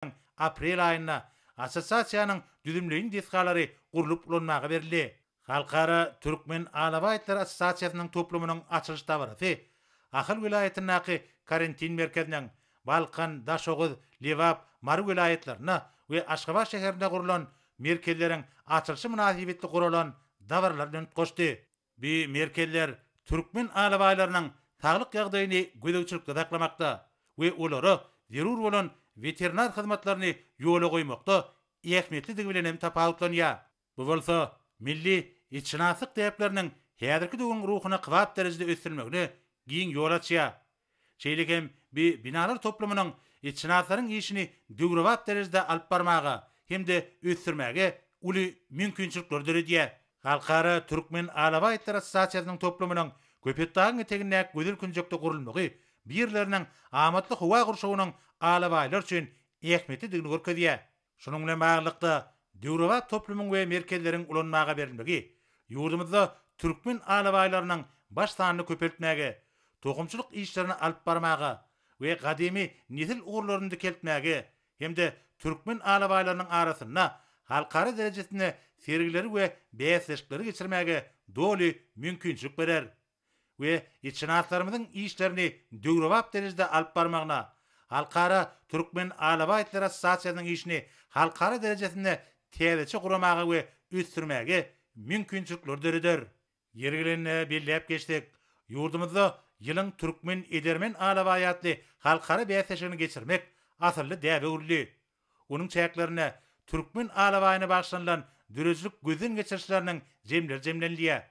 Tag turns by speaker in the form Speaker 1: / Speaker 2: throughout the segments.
Speaker 1: ýylyň aprel aýynda Assosiasiýanyň düzümleýin desgalary gurlup ulanmaga berildi. Halkara Türkmen alabaý itleri assosiasiýasynyň toplumynyň açylyş dabarasy Ahal welaýatyndaky karantin merkeziniň, Balkan, Daşoguz, Lebap, Mary welaýatlarynda we Aşgabat şäherinde gurlan merkezleriň açylyşy mynasybetli guralan dabaralar bilen utgaşdy. Bu merkezler türkmen alabaýlarynyň saglyk ýagdaýyny gözegçilikde saklamakda we olara zerur bolan weterinar hyzmatlaryny ýola goýmakda ähmiýetlidigi bilen hem tapawutlanýar. Bu bolsa milli itşynaslyk däpleriniň häzirki döwrüň ruhuna kybap derejede ösdürilmegine giň ýol açýar. Şeýle hem bi binalar toplumynyň itşynaslaryň işini döwrebap derejede alyp barmaga hem-de ösdürmäge uly mümkinçilikleri döredýär. Halkara Türkmen alabaýtlar assosiasiýasynyň toplumynyň Köpetdagyň etegindäki gözel künjekde gurulmagy bu ýerleriniň amatly howa gurşawynyň alabaýlar üçin ähmiýetlidigini görkezýär. Şunuň bilen baglylykda, döwrebap toplumyň we merkezleriň ulanmaga berilmegi ýurdumyzda türkmen alabaýlarynyň baş sanyny köpeltmäge, tohumçylyk işlerini alyp barmaga we gadymy nesil ugurlaryny dikeltmäge hem-de türkmen alabaýlarynyň arasynda halkara derejesinde sergileri we bäsleşikleri geçirmäge doly mümkinçilik berer. we isşynaslarymyzyň işlerini döwrebap derejede alyp barmagyna, Halkara Türkmen alabaýtlar assosiasiýasynyň işini halkara derejesinde täzeçe guramaga we ösdürmäge mümkinçilikleri döreder. Ýeri gelende belläp geçsek, ýurdumyzda Ýylyň türkmen edermen alabaýy atly halkara bäsleşigini geçirmek asylly däbe öwrüldi. Onuň çäklerinde türkmen alabaýyna bagyşlanylan döredijilik gözden geçirişleriniň jemleri jemlenilýär.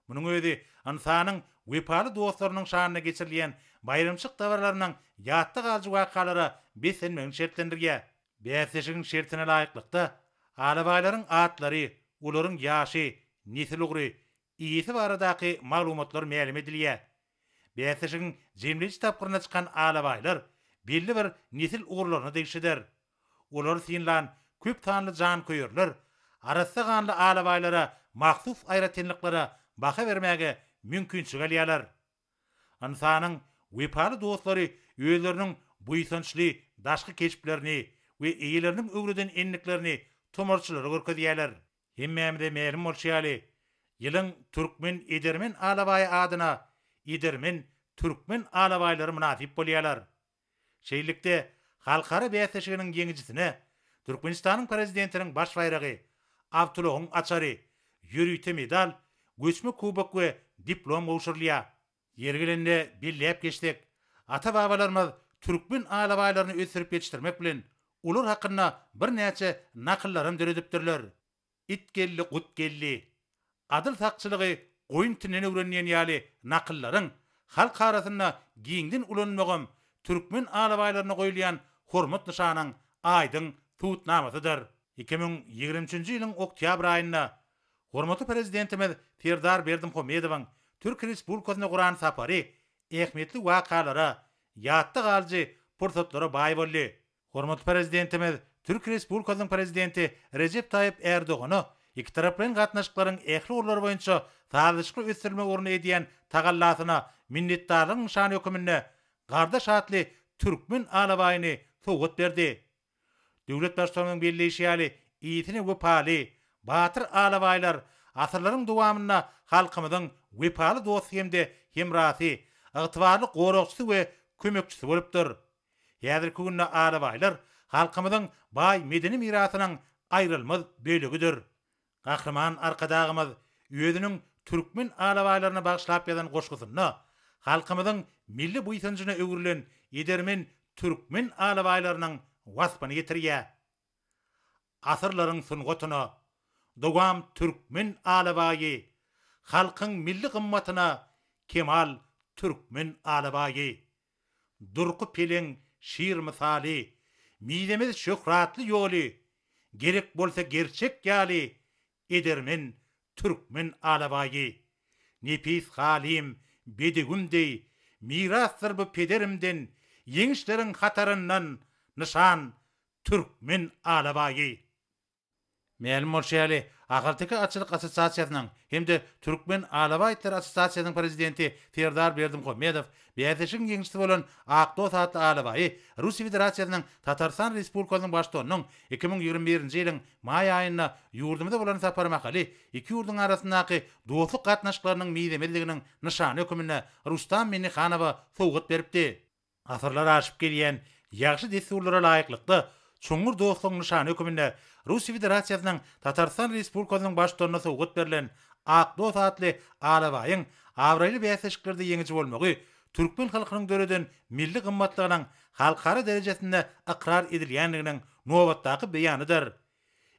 Speaker 1: Munuň özi ynsanyň wepaly dostlarynyň şanyna geçirilýän baýramçylyk dabaralarynyň ýatda galyjy wakalara beslenmegini şertlendirýär. Bäsleşigiň şertine laýyklykda, alabaýlaryň atlary, olaryň ýaşy, nesil ugry, iýesi baradaky maglumatlar mälim edilýär. Bäsleşigiň jemleýji tapgyryna çykan alabaýlar belli bir nesil ugurlaryna degişlidir. Olary synlan köp sanly janköýerler arassa ganly alabaýlara mahsus aýratynlyklara baha bermäge mümkinçilik alýarlar. Ynsanyň wepaly dostlary özleriniň buýsançly daşky keşplerini we eýeleriniň öwreden endiklerini tomarçylara görkezýärler. Hemmämize mälim bolşy ýaly, ýylyň türkmen edermen alabaýy adyna edermen türkmen alabaýlary mynasyp bolýarlar. Şeýlelikde, halkara bäsleşiginiň ýeňijisine Türkmenistanyň Prezidentiniň baş baýragy, awtoulagyň açary, ýörite medal, göçme kubok we diplom gowşurylýar. Ýeri gelende belläp geçsek, ata-babalarymyz türkmen alabaýlaryny ösdürip ýetişdirmek bilen, olar hakynda birnäçe nakyllaram döredipdirler. It geldi, gut geldi. Adyl sakçylygy goýun itinden öwren diýen ýaly nakyllaryň halk arasynda giňden ulanylmagam türkmen alabaýlaryna goýulýan hormat nyşanyň aýdyň subutnamasydyr. Iki müň ýigrimi üçünji ýylyň oktýabr aýynda Hormatly Prezidentimiz Serdar Berdimuhamedowyň Türkiýe Respublikasyna guran sapary ähmiýetli wakalara, ýatda galyjy pursatlara baý boldy. Hormatly Prezidentimiz Türkiýe Respublikasynyň Prezidenti Rejep Taýyp Erdogana ikitaraplaýyn gatnaşyklaryň ähli ugurlary boýunça sazlaşykly ösdürilmegi ugrunda edýän tagallasyna minnetdarlygyň nyşany hökmünde gardaş atly türkmen alabaýyny sowgat berdi. Döwlet Baştutanyň belleýşi ýaly, işine wepaly, batyr alabaýlar asyrlaryň dowamynda halkymyzyň wepaly dosty hem-de hemrasy, ygtybarly goragçysy we kömekçisi bolupdyr. Häzirki günde alabaýlar halkymyzyň baý medeni mirasynyň aýrylmaz bölegidir. Gahryman Arkadagymyz özüniň türkmen alabaýlaryna bagyşlap ýazan goşgusynda halkymyzyň milli buýsanjyna öwrülen edermen türkmen alabaýlarynyň waspyny ýetirýär. Asyrlaryň sungatyna dowam türkmen alabaýy, halkyň milli gymmatyna kemal türkmen alabaýy! Durky peleň şir mysaly, Mizemez şöhratly ýoly, Gerek bolsa gerçek ýaly, Edermen türkmen alabaýy. Nepis halym, bedewim deý, Mirasdyr bu pederimden, Ýeňişleriň hataryndan nyşan, Türkmen alabaýy. Mälim bolşy ýaly, Ahalteke atçylyk assosiasiýasynyň hem-de Türkmen alabaý itleri assosiasiýasynyň prezidenti Serdar Berdimuhamedow bäsleşigiň ýeňişçisi bolan Akdost atly alabaýy Russiýa Federasiýasynyň Tatarystan Respublikasynyň Baştutanynyň iki müň ýigrimi birinji ýylyň maý aýynda ýurdumyza bolan sapary mahaly iki ýurduň arasyndaky dostluk gatnaşyklarynyň mizemezliginiň nyşany hökmünde Rustam Minnihanowa sowgat beripdi. Asyrlar aşyp gelýän ýagşy dessurlara laýyklykda, çuňňur dostlugyň nyşany höküminde Russiýa Federasiýasynyň Tatarystan Respublikasynyň Baştutanyna sowgat berlen Ak dos atly alabaýyň abraýly bäsleşiklerde ýeňiji bolmagy türkmen halkynyň döreden milli gymmatlygynyň halkara derejesinde ykrar edilýändiginiň nobatdaky beýanydyr.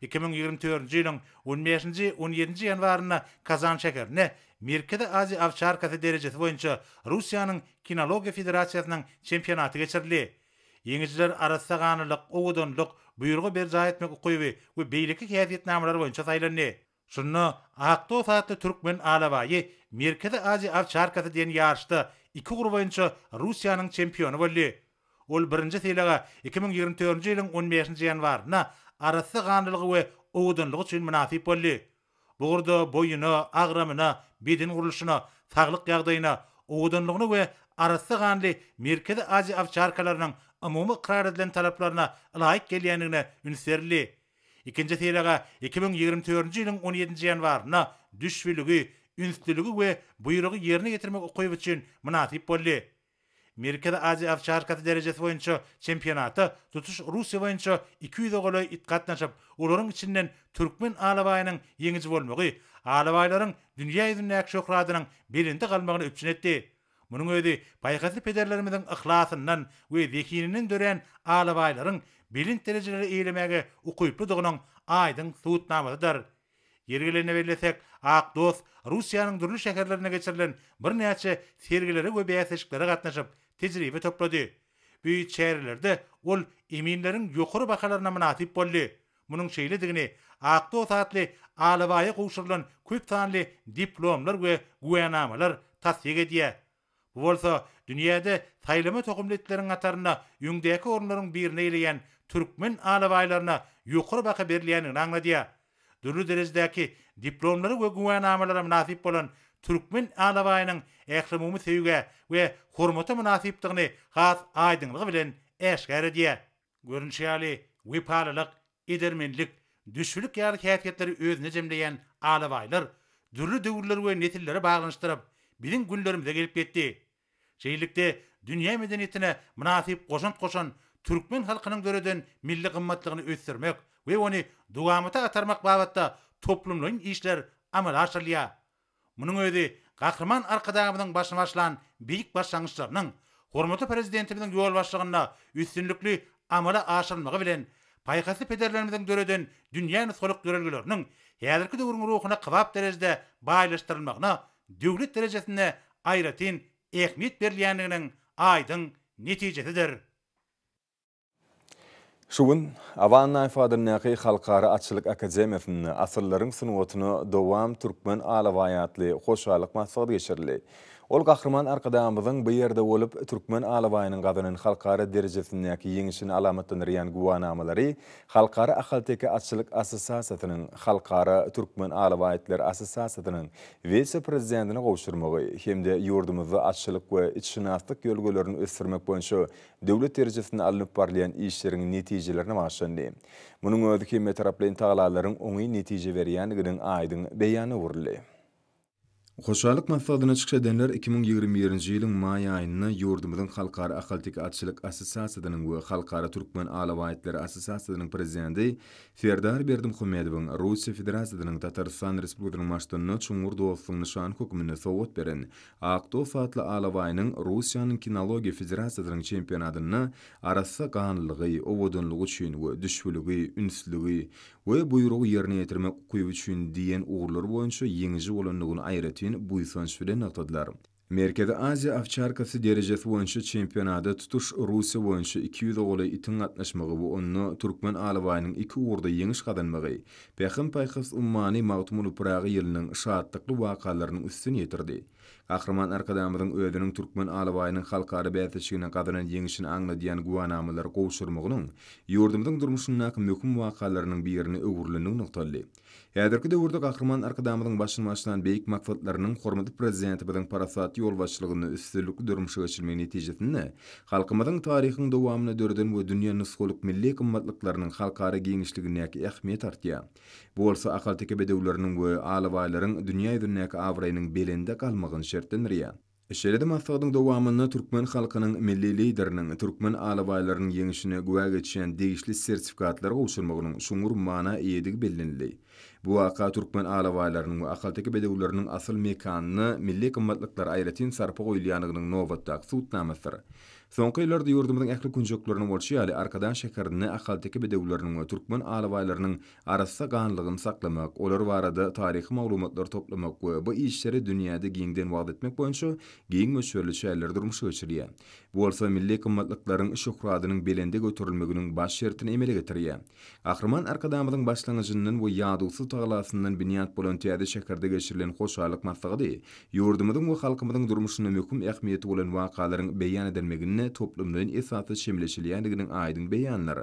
Speaker 1: Iki müň ýigrimi dördünji ýylyň on bäşinji, on ýedinji ýanwarynda Kazan şäherinde Merkezi Aziýa awçarkasy derejesi boýunça Russiýanyň Kinologiýa federasiýasynyň çempionaty geçirildi. Ýeňijiler arassa ganlylyk, owadanlyk, buýrugy berjaý etmek ukyby we beýleki häsiýetnamalary boýunça saýlandy. Şunda Aktos atly türkmen alabaýy Merkezi Aziýa owçarkasy diýen ýaryşda iki ugur boýunça Russiýanyň çempiony boldy. Ol birinji sylaga iki müň ýigrimi dördünji ýylyň on bäşinji ýanwarynda arassa ganlylygy we owadanlygy üçin mynasyp boldy. Bu ugurda boýuna, agramyna, beden gurluşyna, saglyk ýagdaýyna, owadanlygyna we arassa ganly Merkezi Aziýa owçarkalarynyň umumy ykrar edilen talaplaryna laýyk gelýändigine üns berildi. Ikinji sylaga iki müň ýigrimi dördünji ýylyň on ýedinji ýanwarynda düşbüligi, ünslüligi we buýrugy ýerine ýetirmek ukyby üçin mynasyp boldy. Merkezi Aziýa awçarkasy derejesi boýunça çempionata tutuş Russiýa boýunça iki ýüze golaý it gatnaşyp, olaryň içinden türkmen alabaýynyň ýeňiji bolmagy alabaýlaryň dünýä ýüzündäki şöhradynyň belende galmagyny üpjün etdi. Munuň özi paýhasly pederlerimiziň yhlasyndan we zehininden dörän alabaýlaryň belent derejeleri eýelemäge ukyplydygynyň aýdyň subutnamasydyr. Ýeri gelende bellesek, Ak dost Russiýanyň dürli şäherlerinde geçirilen birnäçe sergilere we bäsleşiklere gatnaşyp, tejribe toplady. Bu çärelerde ol eminleriň ýokary bahalaryna mynasyp boldy. Munuň şeýledigini Ak dos atly alabaýa gowşurylan köp sanly diplomlar we güwänamalar tassyk edýär. Bu bolsa dünýäde saýlama tohumly itleriň hatarynda öňdäki orunlaryň birini eýleýän türkmen alabaýlaryna ýokary baha berilýändigini aňladýar. Dürli derejedäki diplomlara we güwänamalara mynasyp bolan türkmen alabaýynyň ählumumy söýgä we hormata mynasypdygyny has aýdyňlygy bilen äşgär edýär. Görnüşi ýaly, wepalylyk, edermenlik, düşbülik ýaly häsiýetleri özünde jemleýän alabaýlar dürli döwürleri we nesilleri baglanyşdyryp, biziň günlerimize gelip ýetdi. Şeýlelikde, dünýä medeniýetine mynasyp goşant goşan türkmen halkynyň döreden milli gymmatlygyny ösdürmek we ony dowamata atarmak babatda toplumlaýyn işler amala aşyrylýar. Munuň özi Gahryman Arkadagymyzyň başyny başlan beýik başlangyçlarynyň hormatly Prezidentimiziň ýolbaşçylygynda üstünlikli amala aşyrylmagy bilen, paýhasly pederlerimiziň döreden dünýä nusgalyk ýörelgeleriniň häzirki döwrüň ruhuna kybap derejede baýlaşdyrylmagyna döwlet derejesinde aýratyn ähmiýet berilýändiginiň aýdyň netijesidir.
Speaker 2: Şu gün Awannaýew adyndaky Halkara atçylyk akademiýasynda Asyrlaryň sungatyna dowam türkmen alabaýy atly hoşallyk maslahaty geçirildi. Ol Gahryman Arkadagymyzyň bu ýerde bolup, türkmen alabaýynyň gazanan halkara derejesindäki ýeňşini alamatlandyrýan güwänamalary Halkara ahalteke atçylyk assosiasiýasynyň, Halkara türkmen alabaýytlar assosiasiýasynyň wise-prezidentine gowşurmagy hem-de ýurdumyzda atçylyk we itşynaslyk ýörelgelerini ösdürmek boýunça döwlet derejesinde alnyp barylýan işleriň netijelerine bagyşlandy. Munuň özi hemmetaraplaýyn tagallalaryň oňyn netije berýändiginiň aýdyň beýany öwrüldi. Hoşallyk maslahatyna çykyş edenler iki müň ýigrimi birinji ýylyň maý aýynda ýurdumyzyň Halkara ahalteke atçylyk assosiasiýasynyň we Halkara türkmen alabaýtlary assosiasiýasynyň prezidenti Serdar Berdimuhamedowyň Russiýa Federasiýasynyň Tatarystan Respublikasynyň Baştutanyna çuňňur dostlugyň nyşany hökmünde sowgat beren Ak dos atly alabaýynyň Russiýanyň kinologiýa federasiýasynyň çempionatynda arassa ganlylygy, owadanlygy üçin we düşbüligi, ünslügi we buýrugy ýerine ýetirmek ukyby üçin diýen ugurlar boýunça ýeňiji bolandygyny aýratyn buýsanç bilen nygtadylar. Merkezi Aziýa owçarkasy derejesi boýunça çempionada tutuş Russiýa boýunça iki ýüze golaý itiň gatnaşmagy we onda türkmen alabaýynyň iki ugurda ýeňiş gazanmagy Pähim-paýhas ummany Magtymguly Pyragy ýylynyň şatlykly wakalarynyň üstüni ýetirdi. Gahryman Arkadagymyzyň özüniň türkmen alabaýynyň halkara bäsleşiginde gazanan ýeňşini aňladýan güwänamalary gowşurmagynyň ýurdumyzyň durmuşyndaky möhüm wakalarynyň birine öwrülenligi nygtaldy. Häzirki döwürde Gahryman Arkadagymyzyň başyny başlan beýik maksatlarynyň hormatly Prezidentimiziň parasatly ýolbaşçylygynda üstünlikli durmuşa geçirilmegi netijesinde Halkymyzyň taryhyň dowamynda döreden we dünýä nusgalyk milli gymmatlyklarynyň halkara giňişligindäki ähmiýeti artýar. Bu bolsa ahalteke bedewleriniň we alabaýlaryň dünýä ýüzündäki abraýynyň belende galmagyny şertlendirýär. Şeýle-de maslahatyň dowamynda türkmen halkynyň Milli Lideriniň türkmen alabaýlarynyň ýeňişine güwä geçýän degişli sertifikatlar gowşurmagynyň çuňňur mana eýedigi bellenildi. Bu waka türkmen alabaýlarynyň we ahalteke bedewleriniň asyl mekanyna milli gymmatlyklara aýratyn sarpa goýulýandygynyň nobatdaky subutnamasydyr. Soňky ýyllarda ýurdumyzyň ähli künjeklerinde bolşy ýaly, Arkadag şäherinde ahalteke bedewleriniň we türkmen alabaýlarynyň arassa ganlygyny saklamak, olar barada taryhy maglumatlary toplamak we bu işleri dünýäde giňden wagyz etmek boýunça giň möçberli çäreler durmuşa geçirilýär. Bu bolsa milli gymmatlyklaryň şöhratynyň belende göterilmeginiň baş şertini emele getirýär. Gahryman Arkadagymyzyň başlangyjyndan we ýadawsyz tagalasyndan binýat bolan täze şäherde geçirilen hoşallyk maslahaty ýurdumyzyň we halkymyzyň durmuşynda möhüm ähmiýeti bolan wakalaryň beýan edilmeginde toplumlaýyn esasda çemeleşilýändiginiň aýdyň beýanydyr.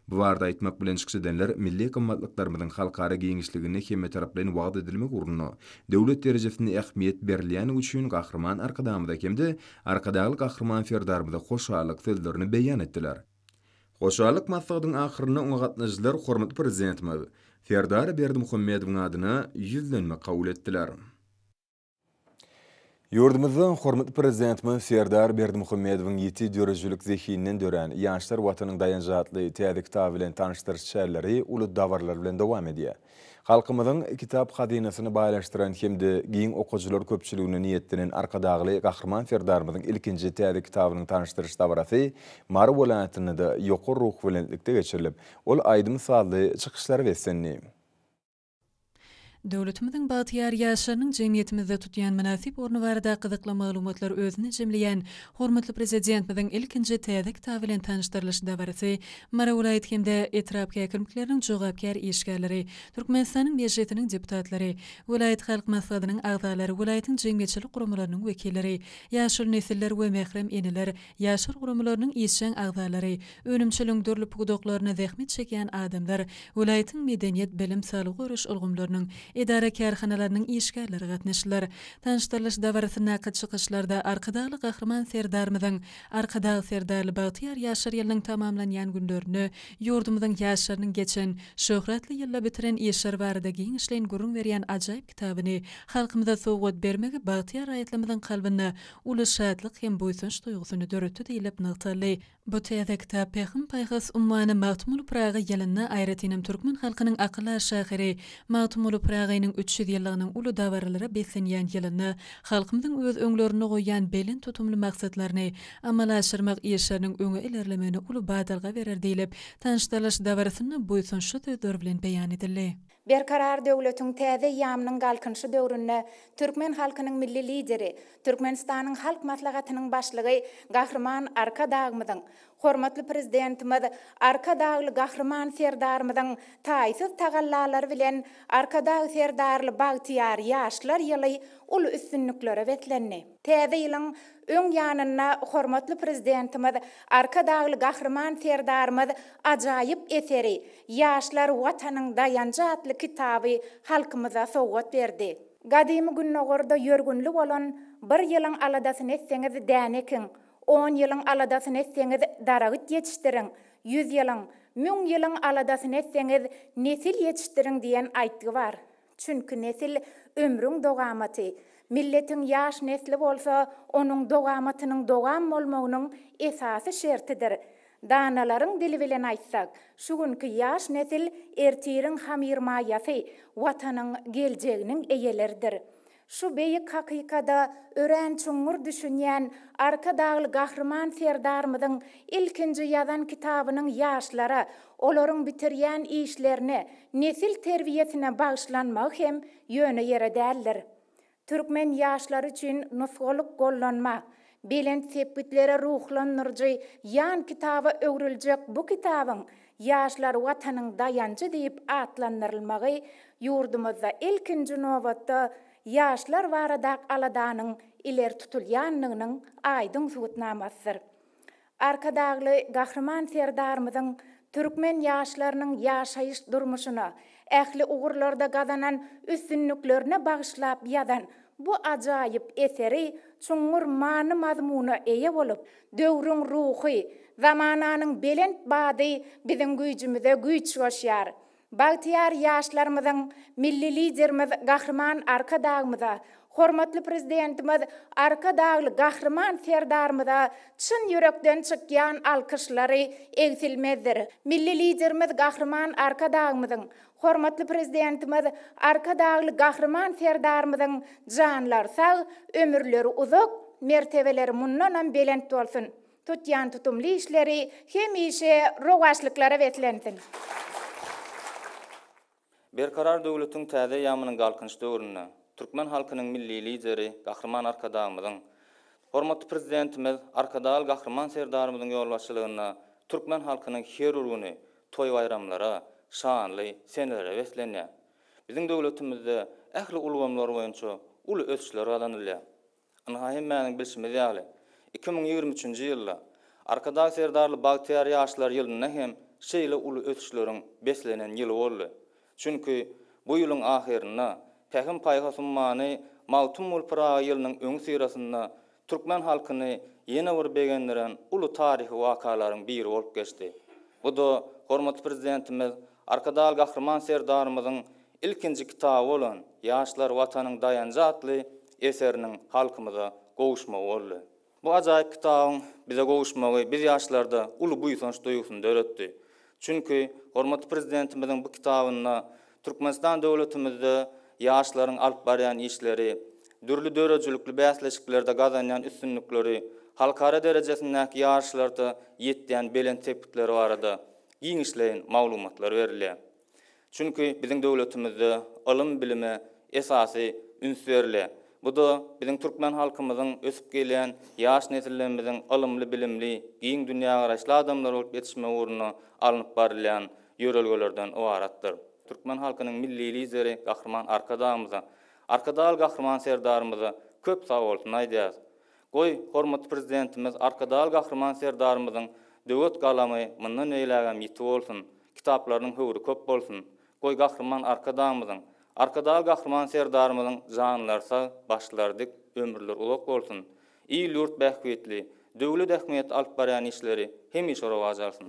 Speaker 2: Bu barada aýtmak bilen çykyş edenler milli gymmatlyklarymyzyň halkara giňişliginde hemmetaraplaýyn wagyz edilmek ugrunda döwlet derejesinde ähmiýet berilýändigi üçin Gahryman Arkadagymyza hem-de Arkadagly Gahryman Serdarymyza hoşallyk sözlerini beýan etdiler. Hoşallyk maslahatyň ahyrynda oňa gatnaşyjylar hormatly Prezidentimiz Serdar Berdimuhamedowyň adyna ýüzlenme kabul etdiler. Ýurdumyzda hormatly Prezidentimiz Serdar Berdimuhamedowyň ýiti döredijilik zehininden dörän Ýaşlar Watanyň daýanjy atly täze kitaby bilen tanyşdyryş çäreleri uly dabaralar bilen dowam edýär. Halkymyzyň kitap hazynasyny baýlaşdyran hem-de giň okyjylar köpçüligine niýetlenen Arkadagly Gahryman Serdarymyzyň ilkinji täze kitabynyň tanyşdyryş dabarasy Mary welaýatynda-da ýokary ruhubelentlikde geçirilip, ol aýdym-sazly çykyşlara beslendi.
Speaker 3: Döwletimiziň bagtyýar ýaşlarynyň jemgyýetimizde tutýan mynasyp orny barada gyzykly maglumatlary özünde jemleýän hormatly Prezidentimiziň ilkinji täze kitaby bilen tanyşdyrylyş dabarasy Mary welaýat hem-de etrap häkimlikleriniň jogapkär işgärleri, Türkmenistanyň Mejlisiniň deputatlary, welaýat halk maslahatynyň agzalary, welaýatyň jemgyýetçilik guramalarynyň wekilleri, ýaşuly nesiller we mährem eneler, ýaşlar guramalarynyň işjeň agzalary, önümçiligiň dürli pudaklarynda zähmet çekýän adamlar, welaýatyň medeniýet, bilim, saglygy goraýyş ulgamlarynyň, edara-kärhanalarynyň işgärleri gatnaşdylar. Tanyşdyrylyş dabarasyndaky çykyşlarda Arkadagly Gahryman Serdarymyzyň Arkadag Serdarly bagtyýar ýaşlar ýylynyň tamamlanýan günlerinde ýurdumyzyň ýaşlarynyň geçen, şöhratly ýylda bitiren işleri barada giňişleýin gürrüň berýän ajaýyp kitabyny halkymyza sowgat bermegi bagtyýar raýatlarymyzyň kalbynda uly şatlyk hem buýsanç duýgusyny döretdi diýlip nygtaldy. Bu täze kitap Pähim-paýhas ummany Magtymguly Pyragy ýylynda, aýratynam türkmen halkynyň akyldar şahyry Magtymguly Pyragynyň üç ýüz ýyllygynyň uly dabaralara beslenýän ýylynda Halkymyzyň öz öňlerinde goýýan belent tutumly maksatlaryny amala aşyrmak işleriniň öňe ilerlemegine uly badalga berer diýlip, tanyşdyrylyş dabarasynda buýsançly sözler bilen beýan edildi. Berkarar
Speaker 4: döwletiň täze eýýamynyň Galkynyşy döwründe türkmen halkynyň Milli Lideri, Türkmenistanyň Halk Maslahatynyň Başlygy Gahryman Arkadagymyzyň, Hormatly Prezidentimiz Arkadagly Gahryman Serdarymyzyň taýsyz tagallalary bilen Arkadag Serdarly bagtyýar ýaşlar ýyly uly üstünliklere beslendi. Täze ýylyň öň ýanynda hormatly Prezidentimiz Arkadagly Gahryman Serdarymyz ajaýyp eseri, Ýaşlar, Watanyň daýanjy atly kitaby halkymyza sowgat berdi. Gadymy Gündogarda ýörgünli bolan Bir ýylyň aladasyny etseňiz däne ekiň, On ýylyň aladasyny etseňiz, daragyt ýetişdiriň, ýüz ýylyň, müň ýylyň aladasyny etseňiz, nesil ýetişdiriň diýen aýtgy bar. Çünki nesil, ömrüň dogamaty. Milletiň ýaş nesli bolsa, onuň dogamatynyň dowam bolmagynyň esasy şertidir. Danalaryň dili bilen aýtsak, şu günki ýaş nesil ertiriň hamyrmaýasy, Watanyň geljeginiň eýeleridir. Şu beýik hakykada örän çuňňur düşünýän Arkadagly Gahryman Serdarymyzyň ilkinji ýazan kitabynyň ýaşlara, olaryň bitirýän işlerine, nesil terbiýesine bagyşlanmagy hem ýöne ýere däldir. Türkmen ýaşlary üçin nusgalyk gollanma. Belent sepgitlere ruhlandyryjy ýan kitaba öwrüljek bu kitabyň Ýaşlar Watanyň daýanjy diýip atlandyrylmagy ýurdumyzda ilkinji nobatda ýaşlar baradak aladanyň ileri tutulýandygynyň aýdyň subutnamasydyr. Arkadagly Gahryman Serdarymyzyň türkmen ýaşlarynyň ýaşaýyş-durmuşyna, ähli ugurlarda gazanan üstünliklerine bagyşlap ýazan bu ajaýyp eseri çuňňur many-mazmuna eýe bolup, döwrüň ruhy, zamananyň belent bady biziň güýjümize güýç goşýar. Bagtyýar ýaşlarymyzyň Milli Liderimiz Gahryman Arkadagymyza, hormatly Prezidentimiz Arkadagly Gahryman Serdarymyza çyn ýürekden çykýan alkyşlary egsilmezdir. Milli Liderimiz Gahryman Arkadagymyzyň, hormatly Prezidentimiz Arkadagly Gahryman Serdarymyzyň janlary sag, ömürleri uzak, mertebeleri mundanam belent bolsun! Tutýan tutumly işleri hemişe rowaçlyklara beslensin!
Speaker 5: Berkarar döwletiň täze eýýamynyň Galkynyş döwründe türkmen halkynyň Milli Lideri Gahryman Arkadagymyzyň, hormatly Prezidentimiz Arkadagly Gahryman Serdarymyzyň ýolbaşçylygynda türkmen halkynyň her bir güni toý-baýramlara, şanly senelere beslenýär. Biziň döwletimizde ähli ulgamlar boýunça uly ösüşler gazanylýar. Ynha, hemmäniň bilşimiz ýaly, iki müň ýigrimi üçünji ýylda Arkadag Serdarly bagtyýar ýaşlar ýylynda hem şeýle uly ösüşleriň beslenen ýyly boldy. Çünki, bu ýylyň ahyrynda Pähim-paýhas ummany Magtymguly Pyragy ýylynyň öňüsyrasynda türkmen halkyny ýene bir begendiren uly taryhy wakalaryň biri bolup geçdi. Bu-da hormatly Prezidentimiz Arkadagly Gahryman Serdarymyzyň ilkinji kitaby bolan Ýaşlar, Watanyň daýanjy atly eseriniň halkymyza gowuşmagy boldy. Bu ajaýyp kitabyň bize gowuşmagy biz ýaşlarda uly buýsanç duýgusyny döretdi. Çünki, hormatly Prezidentimiziň bu kitabynda Türkmenistan döwletimizde ýaşlaryň alyp barýan işleri, dürli döredijilikli bäsleşiklerde gazanýan üstünlikleri, halkara derejesindäki ýaryşlarda ýetýän belent sepgitleri barada giňişleýin maglumatlar berilýär. Çünki biziň döwletimizde ylym-bilime esasy üns berilýär. Bu-da biziň türkmen halkymyzyň ösüp gelýän ýaş nesillerimiziň ylymly-bilimli, giň dünýägaraýyşly adamlar bolup ýetişmegi ugrunda alnyp barylýan ýörelgelerden ybaratdyr. Türkmen halkynyň Milli Lideri Gahryman Arkadagymyza, Arkadagly Gahryman Serdarymyza köp sagbolsun aýdýarys. Goý, hormatly Prezidentimiz Arkadag Gahryman Serdarymyzyň döwet galamy mundan beýlägem ýiti bolsun, kitaplarynyň höwri köp bolsun! Goý, Gahryman Arkadagymyzyň, Arkadag Gahryman Serdarymyzyň janlary sag, başlary dik, ömürleri uzak bolsun! Il-ýurt bähbitli, döwlet ähmiýetli alyp barýan işleri hemişe rowaç alsyn!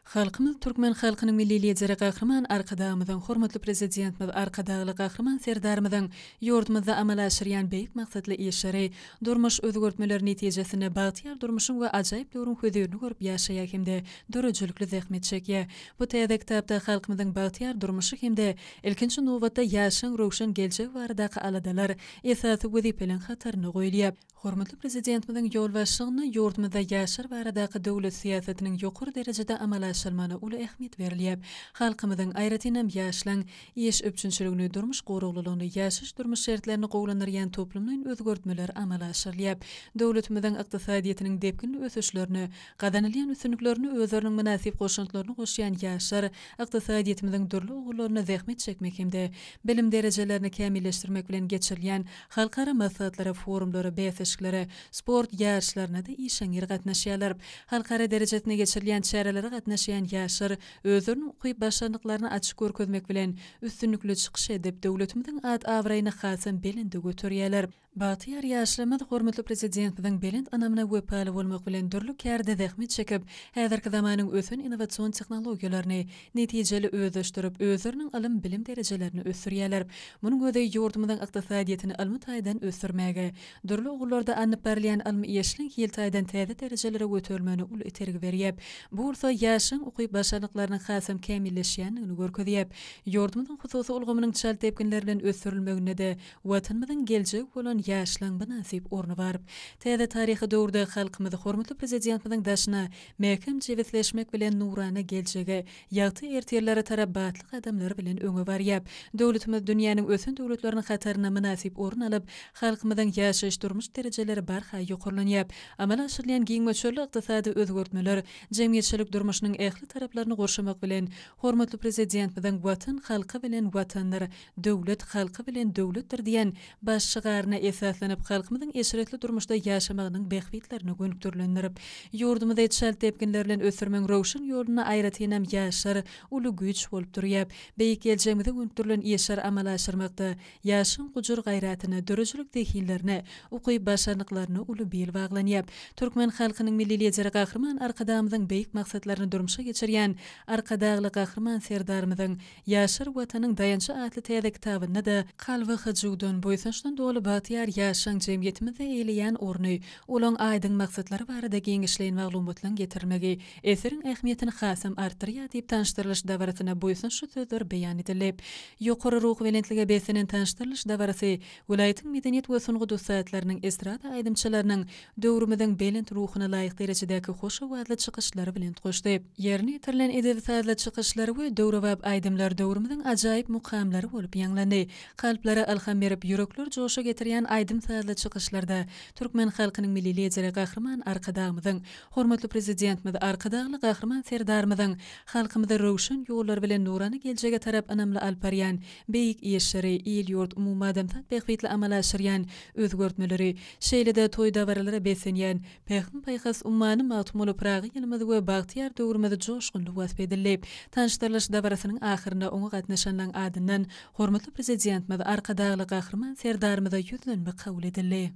Speaker 3: Halkymyz Türkmen halkynyň Milli Lideri Gahryman Arkadagymyzyň, hormatly Prezidentimiz Arkadagly Gahryman Serdarymyzyň ýurdumyzda amala aşyrýan beýik maksatly işleri, durmuş özgertmeleri netijesinde bagtyýar durmuşyň we ajaýyp döwrüň hözirini görüp ýaşaýar hem-de döredijilikli zähmet çekýär. Bu täze kitapda halkymyzyň bagtyýar durmuşy hem-de, ilkinji nobatda, ýaşlaryň röwşen geljegi baradaky aladalar esasy wezipeleň hatarynda goýulýar. Hormatly Prezidentimiziň ýolbaşçylygynda ýurdumyzda ýaşlar baradaky döwlet syýasatynyň ýokary derejede amala aşyrylmagyna uly ähmiýet berilýär. Halkymyzyň, aýratynam, ýaşlaryň iş üpjünçiligini, durmuş guraglylygyny, ýaşaýyş-durmuş şertlerini gowulandyrýan toplumlaýyn özgertmeler amala aşyrylýar. Döwletimiziň ykdysadyýetiniň depginli ösüşlerine gazanylýan üstünliklerine özleriniň mynasyp goşantlaryny goşýan ýaşlar ykdysadyýetimiziň dürli ugullaryna zähmet çekmek hem-de bilim derejelerini kämilleşdirmek bilen geçirilýän Halkara maslahatlara, forumlara, bäsleşiklere, sport ýaryşlaryna-da işeňňir gatnaşýarlar. Halkara derejesinde geçirilýän çärelere gatnaşýan ýaşlar özleriniň ukyp başarnyklaryny açyk görkezmek bilen, üstünlikli çykyş edip, döwletimiziň at-abraýyny hasam belende göterýärler. Bagtyýar ýaşlarymyz hormatly Prezidentimiziň belent ynamyna wepaly bolmak bilen, dürli kärde zähmet çekip, häzirki zamanyň ösen innowasion tehnologiýalaryny, netijeli özleşdirip, özleriniň ylym-bilim derejelerini ösdürýärler. Munuň özi ýurdumyzyň ykdysadyýetini ylmy taýdan ösdürmäge, dürli ugurlarda alnyp barylýan ylmy işliň hil taýdan täze derejelere göterilmegine uly itergi berýär. Bu bolsa ýaşlaryň ukyp-başarnyklarynyň hasam kämilleşýändigini görkezýär. Ýurdumyzyň hususy ulgamynyň çalt depginler bilen ösdürilmeginde-de Watanymyzyň geljegi bolan ýaşlaryň mynasyp orny bar. Täze taryhy döwürde halkymyz hormatly Prezidentimiziň daşyna Mäkäm jebisleşmek bilen nurana geljege, ýagty ertirlere tarap batly gadamlar bilen öňe barýar. Döwletimiz dünýäniň ösen döwletleriniň hatarynda mynasyp orun alyp, halkymyzyň ýaşaýyş-durmuş derejeleri barha ýokarlanýar. Amala aşyrylýan giň möçberli ykdysady özgertmeler jemgyýetçilik durmuşynyň ähli taraplaryny gurşamak bilen, hormatly Prezidentimiziň Watan halky bilen Watandyr! Döwlet halky bilen döwletdir diýen baş şygaryna esaslanyp, halkymyzyň eşretli durmuşda ýaşamagynyň bähbitlerine gönükdirilendir. Ýurdumyzy çalt depginler bilen ösdürmegiň röwşen ýolunda aýratynam ýaşlar uly güýç bolup durýar. Beýik geljegimize gönükdirilen işleri amala aşyrmakda ýaşlaryň gujur-gaýratyna, döredijilik zehinlerine, ukyp-başarnyklaryna uly bil baglanýar. Türkmen halkynyň Milli Lideri Gahryman Arkadagymyzyň beýik maksatlaryny durmuşa geçirýän Arkadagly Gahryman Serdarymyzyň Ýaşar Watanyň daýançy atly täze kitabynda-da kalby hyjuwdan, buýsançdan doly bagtyýar ýaşlaryň jemgyýetimizde eýeleýän orny, olaň aýdyň maksatlary barada giňişleýin maglumatlaryň getirilmegi eseriň ähmiýetini hasam artdyrýar diýip tanyşdyrylyş dabarasyna buýsançly sözler beýan edildi. Ýokary ruhubelentlige beslenen tanyşdyrylyş dabarasy Welaýatyň medeniýet we sungat ussatlarynyň, estrada aýdymçylarynyň döwrümiziň belent ruhuna laýyk derejedäki hoş owazly çykyşlary belent goşdy. Ýerine ýetirilen edebi-sazly çykyşlar we döwrebap aýdymlar döwrümiziň ajaýyp mukamlary bolup ýaňlandy. Kalplara ylham berip, ýürekleri joşa getirýän aýdym-sazly çykyşlarda türkmen halkynyň Milli Lideri Gahryman Arkadagymyzyň, hormatly Prezidentimiz Arkadagly Gahryman Serdarymyzyň halkymyzy röwşen ýollar bilen nurana geljege tarap ynamly alyp barýan beýik işleri, il-ýurt, umumadamzat bähbitli amala aşyrýan özgertmeleri, şeýle-de toý-dabaralara beslenýän Pähim-paýhas ummany Magtymguly Pyragy ýylymyzy we bagtyýar döwrümizi joşgunly wasp edildi. Tanyşdyrylyş dabarasynyň ahyrynda oňa gatnaşanlaryň adyndan hormatly Prezidentimiz Arkadagly Gahryman Serdarymyza ýüzlenme kabul edildi.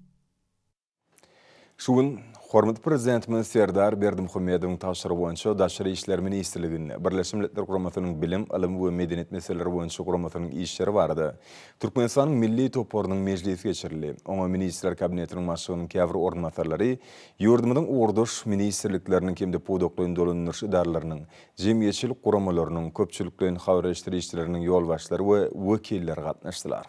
Speaker 3: Şu
Speaker 2: gün hormatly Prezidentimiz Serdar Berdimuhamedowyň tabşyrygy boýunça Daşary işler ministrliginde Birleşen Milletler Guramasynyň Bilim, ylym we medeniýet meseleleri boýunça guramasynyň işleri barada Türkmenistanyň milli toparynyň mejlisi geçirildi. Oňa Ministrler Kabinetiniň başlygynyň käbir orunbasarlary, ýurdumyzyň ugurdaş ministrlikleriniň hem-de pudaklaýyn dolandyryş edaralarynyň, jemgyýetçilik guramalarynyň, köpçülikleýin habar eşdirişleriniň ýolbaşçylary we wekilleri gatnaşdylar.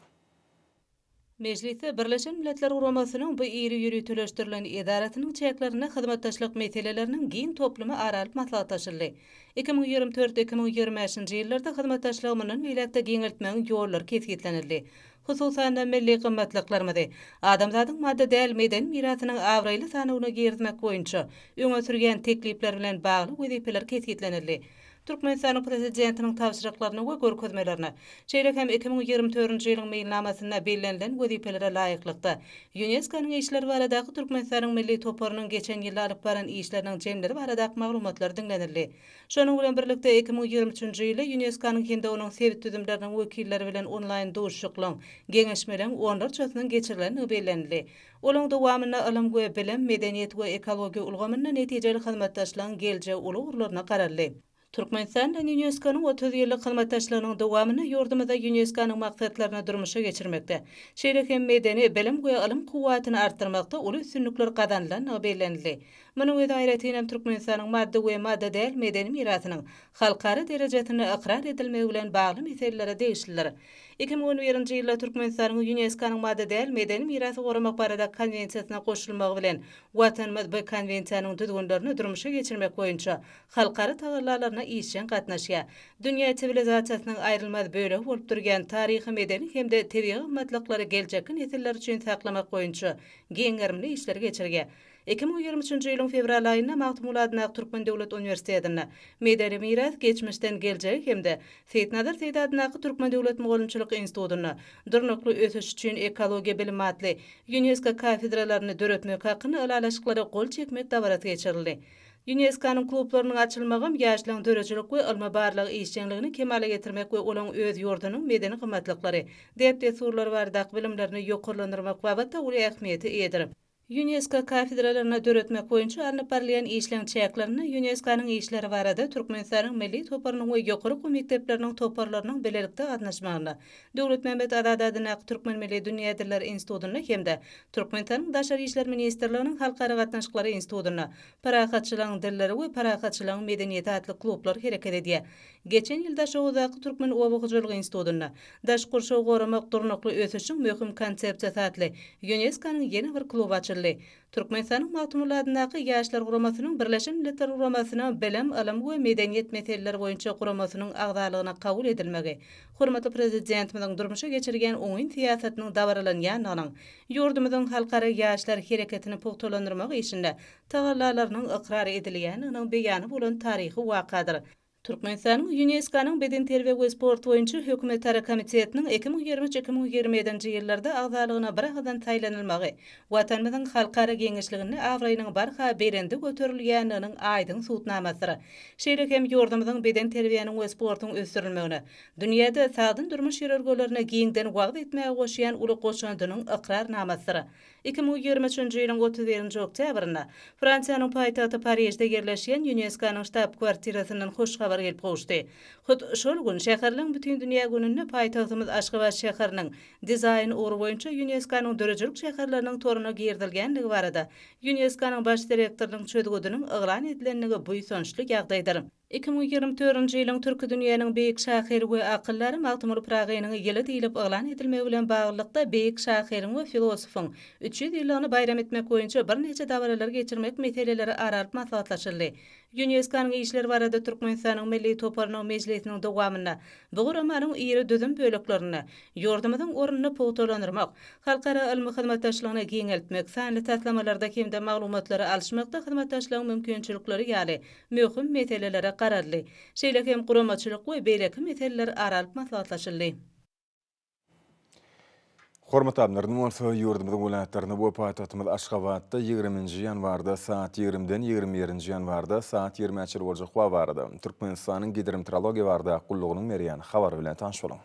Speaker 6: Mejlisde Birleşen Milletler Guramasynyň bu iri ýöriteleşdirilen edarasynyň çäklerinde hyzmatdaşlyk meseleleriniň giň toplumy ara alyp maslahatlaşyldy. Iki müň ýigrimi dört, iki müň ýigrimi bäşinji ýyllarda hyzmatdaşlygy mundan beýläk-de giňeltmegiň ýollary kesgitlenildi. Hususan-da, milli gymmatlyklarymyzy adamzadyň maddy däl medeni mirasynyň abraýly sanawyna girizmek boýunça öňe sürýän teklipler bilen bagly wezipeler kesgitlenildi. Türkmenistanyň Prezidentiniň tabşyryklaryna we görkezmelerine, şeýle hem iki müň ýigrimi törünji ýylyň meýilnamasynda bellenilen wezipelere laýyklykda, ÝUNESKO-nyň işleri baradaky Türkmenistanyň milli toparynyň geçen ýylda alyp baran işleriniň jemleri baradaky maglumatlar diňlenildi. Şonuň bilen birlikde, iki müň ýigrimi üçünji ýylda ÝUNESKO-nyň hem-de onuň sebit düzümleriniň wekilleri bilen onlaýn duşuşyklaryň, geňeşmeleriň onlarçasynyň geçirilendigi bellenildi. Olaň dowamynda ylym we bilim, medeniýet we ekologiýa ulgamynda netijeli hyzmatdaşlygyň geljegi uly ugurlaryna garaldy. Türkmenistan bilen ÝUNESKO-nyň otuz ýyllyk hyzmatdaşlygynyň dowamynda ýurdumyzda ÝUNESKO-nyň maksatlaryny durmuşa geçirmekde, şeýle hem medeni, bilim we ylym kuwwatyny artdyrmakda uly üstünlikler gazanylandygy bellenildi. Munuň özi aýratyn hem Türkmenistanyň maddy we maddy däl medeni mirasynyň halkara derejesinde ykrar edilmegi bilen bagly meselelere degişlidir. Iki müň on birinji ýylda Türkmenistanyň ÝUNESKO-nyň maddy däl medeni mirasy goramak barada Konwensiýasyna goşulmagy bilen, Watanymyz bu Konwensiýanyň düzgünlerini durmuşa geçirmek boýunça halkara tagallalaryna işjeň gatnaşýar. Dünýä siwilizasiýasynyň aýrylmaz bölegi bolup durýan taryhy-medeni hem-de tebigy gymmatlyklary geljekki nesiller üçin saklamak boýunça giň gerimli işleri geçirýär. Iki müň ýigrimi üçünji ýylyň fewral aýynda Magtymguly adynda Aktürkmen döwlet uniwersitetinde Medeni miras, geçmişden geljege hem-de Seýitnazar Seýdi adyndaky Türkmen döwlet mugallymçylyk institutynda Durnukly ösüş üçin ekologiýa bilimi atly Ýunesko kafedralaryny döretmek hakynda ylalaşyklara gol çekmek dabarasy geçirildi. Ýuneskonyň klublarynyň açylmagam ýaşlaryň döredijilik we ylmy-barlag işjeňligini kemala getirmek we olaryň öz ýurdunyň medeni gymmatlyklary, däp-dessurlary baradaky bilimlerini ýokarlandyrmak babatda uly ähmiýete eýedir. Ýunesko kafedralaryny döretmek boýunça alnyp barylýan işleň çäklerinde Ýuneskonyň işleri barada Türkmenistanyň Milli toparynyň we ýokary okuw mekdepleriniň toparlarynyň bilelikde gatnaşmagynda Döwletmämmet Azady adyndaky Türkmen milli dünýä dilleri institutynda hem-de Türkmenistanyň Daşary işler ministrliginiň Halkara gatnaşyklary institutynda Parahatçylygyň dilleri we Parahatçylygyň medeniýeti atly klublar hereket edýär. Geçen ýyl Daşoguzdaky Türkmen oba hojalygy institutynda Daş gurşawy goramak, durnukly ösüşiň möhüm konsepsiýasy atly ÝUNESKO-nyň ýene bir kluby açyldy. Türkmenistanyň Magtymguly adyndaky Ýaşlar guramasynyň Birleşen Milletler Guramasynyň Bilim, ylym we medeniýet meseleleri boýunça guramasynyň agzalygyna kabul edilmegi hormatly Prezidentimiziň durmuşa geçirýän oňyn syýasatynyň dabaralanýandygynyň, ýurdumyzyň halkara ýaşlar hereketini pugtalandyrmak işinde tagallalarynyň ykrar edilýändiginiň beýany bolan taryhy wakadyr. Türkmenistanyň Ýunesko-nyň Bedenterbiýe we sport boýunça hökümetara komitetiniň iki müň ýigrimi üç-iki müň ýigrimi ýedinji ýyllarda agzalygyna biragyzdan saýlanylmagy Watanymyzyň halkara giňişliginde abraýynyň barha belende göterilýändiginiň aýdyň subutnamasydyr. Şeýle hem ýurdumyzyň bedenterbiýäniň we sportuň ösdürilmegine, dünýäde sagdyn durmuş ýörelgelerini giňden wagyz etmäge goşýan uly goşandynyň ykrarnamasydyr. Iki müň ýigrimi üçünji ýylyň otuz birinji oktýabrynda Fransiýanyň paýtagty Parižde ýerleşýän Ýuneskonyň ştab-kwartirasyndan hoş habar gelip gowuşdy. Hut şol gün, Şäherleň bütindünýä gününde paýtagtymyz Aşgabat şäheriniň Dizaýn ugry boýunça Ýuneskonyň döredijilik şäherleriniň toruna girizilgänligi barada Ýuneskonyň baş direktorynyň çözgüdiniň yglan edilendigi buýsançly ýagdaýdyr. Iki müň ýigrimi dördünji ýylyň Türki dünýäniň beýik şahyry we akyldary Magtymguly Pyragynyň ýyly diýlip yglan edilmegi bilen baglylykda beýik şahyryň we filosofyň üç ýüz ýyllygyny baýram etmek boýunça birnäçe dabaralary geçirmek meseleleri ara alyp maslahatlaşyldy. Ýuneskonyň işler barada Türkmenistanyň Milli toparynyň mejlisiniň dowamynda bu guramanyň iri düzüm böleklerinde ýurdumyzyň ornuny pugtalandyrmak, halkara ylmy hyzmatdaşlygyny giňeltmek, sanly taslamalarda hem-de maglumatlary alyşmakda hyzmatdaşlygyň mümkinçilikleri ýaly möhüm meselelere garaldy. Şeýle hem guramaçylyk we beýleki meseleler ara alyp maslahatlaşyldy.
Speaker 2: Hormatly Alymlar, indi bolsa ýurdumyzyň welaýatlarynda we paýtagtymyz Aşgabatda ýigrimi nji ýanwarda saat ýigrimi den ýigrimi bir nji ýanwarda saat ýigrimä çenli boljak howa barada Türkmenistanyň Gidromtrologiýa bardak gullugynyň berýän habary bilen tanyş boluň.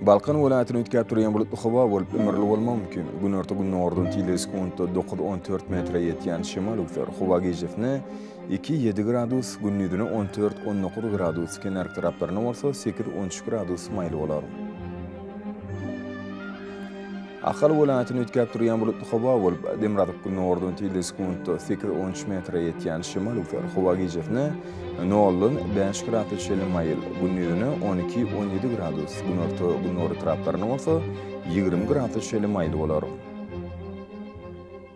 Speaker 2: Balkan welaýatyny üýtgäp durýan bulutly howa bolup, ümürli bolmagy mümkin. Günorta-gündogardan tizligi sekuntda dokuz-on dört metre ýetýän şemal öwser. Howa gijesine iki, ýedi gradus, gündizine on dört, on dokuz gradus, kenarki taraplaryna bolsa sekiz, on üç gradus maýyl bolar. Ahal welaýatyny üýtgäp durýan bulutly howa bolup, demirgazyk günordan tizligi sekuntda sekiz, on üç metre ýetýän şemal üwser. Howa gijesine noldan bäş gradus çenli maýyl, gündizine on iki, on ýedi gradus, günorta, günorta taraplaryna bolsa ýigrimi gradus çenli maýyl bolar.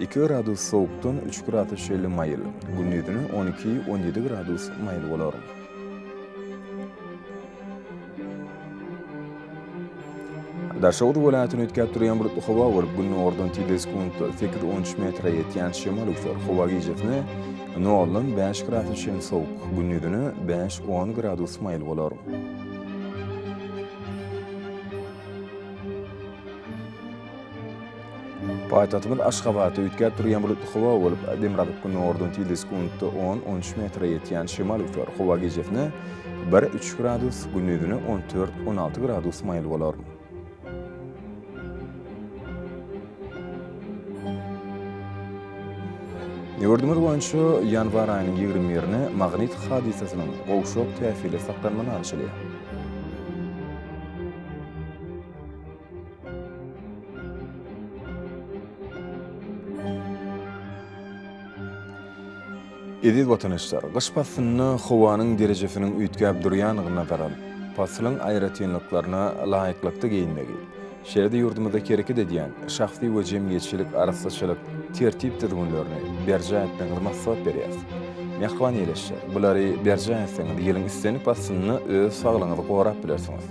Speaker 2: Iki gradus sowukdan üç gradus şeýle maýyl, gündizine on iki, on ýedi gradus maýyl bolar. Daşoguz welaýatyny üýtgäp durýan bulutly howa bolup, günordan tizligi sekuntda sekiz-on üç metre ýetýän şemal öwser. Howa gijesine noldan bäş gradus çenli sowuk, gündizine bäş-on gradus maýyl bolar. Paýtagtymyz Aşgabatda üýtgäp durýan bulutly howa bolup, demirgazyk günordan tizligi sekuntda on, on üç metre ýetýän şemal öser. Howa gijesine bir, üç gradus, gündizine on dört, on alty gradus maýyl bolar. Ýurdumyz boýunça ýanwar aýynyň ýigrimi birine magnit hadysasynyň gowşak täsirli saklanmaly alşylýar. Eziz watandaşlar, gyş paslynda howanyň derejesiniň üýtgäp durýandygyna nazar alyp, paslyň aýratynlyklaryna laýyklykda geýinmegi, şeýle-de ýurdumyzda hereket edýän şahsy we jemgyýetçilik arassaçylyk tertip-düzgünlerini berjaý etmegiňizi maslahat berýäris. Mähriban ýeleşje, bulary berjaý etseňiz, ýylyň islendik paslynda öz saglygyňyzy gorap bilersiňiz.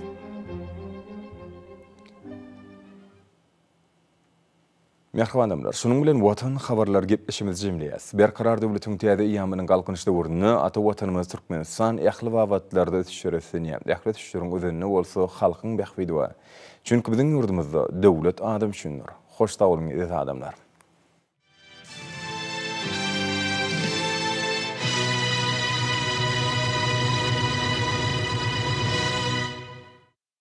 Speaker 2: Mähriban adamlar, şunuň bilen Watan habarlary gepleşigimizi jemleýäs. Berkarar döwletiň täze eýýamynyň Galkynyş döwründe ata Watanymyz Türkmenistan ähli babatlarda ösüşlere üslenýär. Ähli ösüşleriň özeninde bolsa halkyň bähbidi bar. Çünki biziň ýurdumyzda döwlet adam üçindir. Hoş sag boluň eziz adamlar.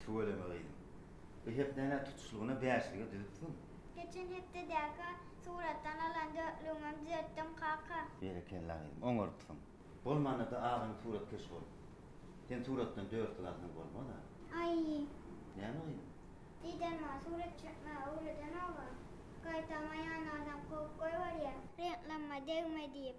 Speaker 7: Tüweleme gyzym. Bu hepdäni-ä tutuşlygyna bäşlige düzüpsiň. Geçen
Speaker 8: hepdedäki suratdan alan dörtlügiňem düzetdiň, kaka. Berekella gyzym,
Speaker 7: oňarypsyň. Bolmanda-da agam suratkeş bolup. Sen suratdan dörtlük alsaň bolmaz-a. Aý.
Speaker 8: Näme gyzym?
Speaker 7: Didem maňa
Speaker 8: surat çekmegi öwredenok-a. Gaýtam aýanny adam kowup goýberýär, reňklamma degme diýip.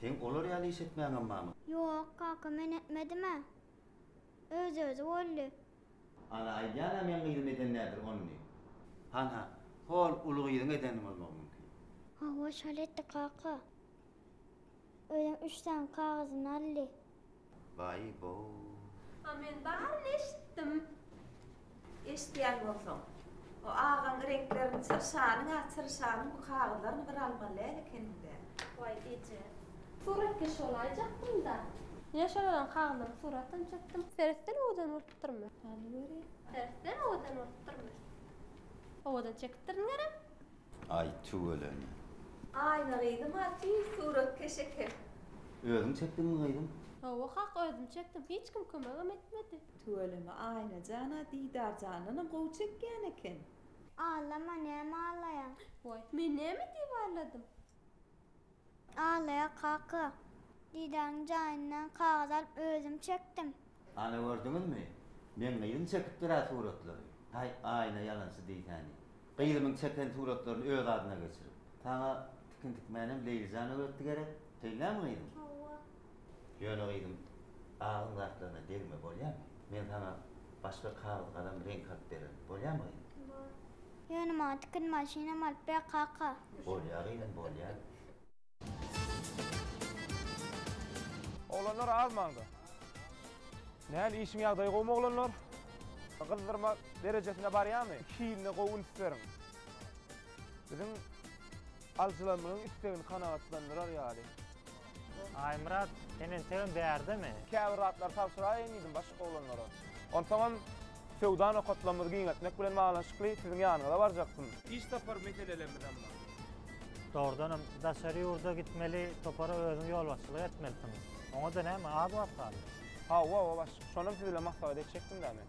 Speaker 7: Seň olar ýaly iş etmäňem barmy? Ýok, kaka, men
Speaker 8: etmedim-ä. Öz-özi boldy. Ana,
Speaker 7: aýdýan-a meň gyzym eden däldir ony. Hanha, hol uly gyzyň edeni bolmagy mümkin. Hawa, şol
Speaker 8: etdi, kaka. Özem üç sany kagyzyny aldy. Baý
Speaker 7: boo. A men
Speaker 9: baryny eşitdim. Eşidýän bolsaň. O agaň reňklerini çyrşanyň a çyrşanyň bu kagyzlaryny bir almaly däl ekenimdä. Waý eje.
Speaker 8: Suratkeş bolaýjakdymda. Ýene şolaryň kagyzlarynyň suratyny çekdim. Seretden owadan bolupdyrmy? Hany görýän.
Speaker 9: Seretden owadan
Speaker 8: bolupdyrmy? Owadan çekipdirdiňerem. Aý
Speaker 7: tüweleme. Aýna
Speaker 9: gyzym-a tiz suratkeş eken. Özüň
Speaker 7: çekdiňmi gyzym? Hawa kaka özüm
Speaker 8: çekdim hiç kim kömegem etmedi. Tüweleme Aýna
Speaker 9: jana Didar jandanam gowy çekýän eken. Aglama
Speaker 8: näme aglaýaň. Woý men näme
Speaker 9: diýip
Speaker 8: agladym. Alya kaka, didäň jaýyndan kagyz alyp özüm çekdim. Ana gördüňizmi?
Speaker 7: Meň gyzym çekipdir-ä suratlary. Haý, Aýna ýalançy diýsäni. Gyzymyň çeken suratlaryny öz adyna geçirip. Saňa tikin tikmänem Leýli jana öwretdi gerek? Şeýlemi gyzym? Hawa.
Speaker 8: Ýöne
Speaker 7: gyzym, agyň zatlaryna degme, bolýamy? Men saňa başga kagyz-galam, reňk alyp bererin. Bolýamy gyzym? Bor. Ýöne
Speaker 8: maňa tikin maşynam alyp ber, kaka. Bolýar gyzym,
Speaker 7: bolýar.
Speaker 10: Oglanlar az maňda. Näl, işiň ýagdaýy gowumy oglanlar? Gyzdyrma derejesine barýamy? Iki hiline gowy üns beriň. Biziň alyjylarymyzyň istegini kanagatlandyrar ýaly.
Speaker 11: Aýmyrat, seň entegem bärdemi? Käbir zatlary tabşyraýyn
Speaker 10: diýdim başga oglanlara. Onsoňam söwda nokatlarymyzy giňeltmek bilen baglanyşykly siziň ýanyňyza barjakdym. Iş sapar meselelemizem bar. Dogrudanam,
Speaker 11: daşary ýurda gitmeli topara özüň ýolbaşçylyk etmelisiň. Oňa-da näme, az wagt galdy. Hawa-wa, başlyk,
Speaker 10: şonam siz bilen maslahat etjekdim-dä men.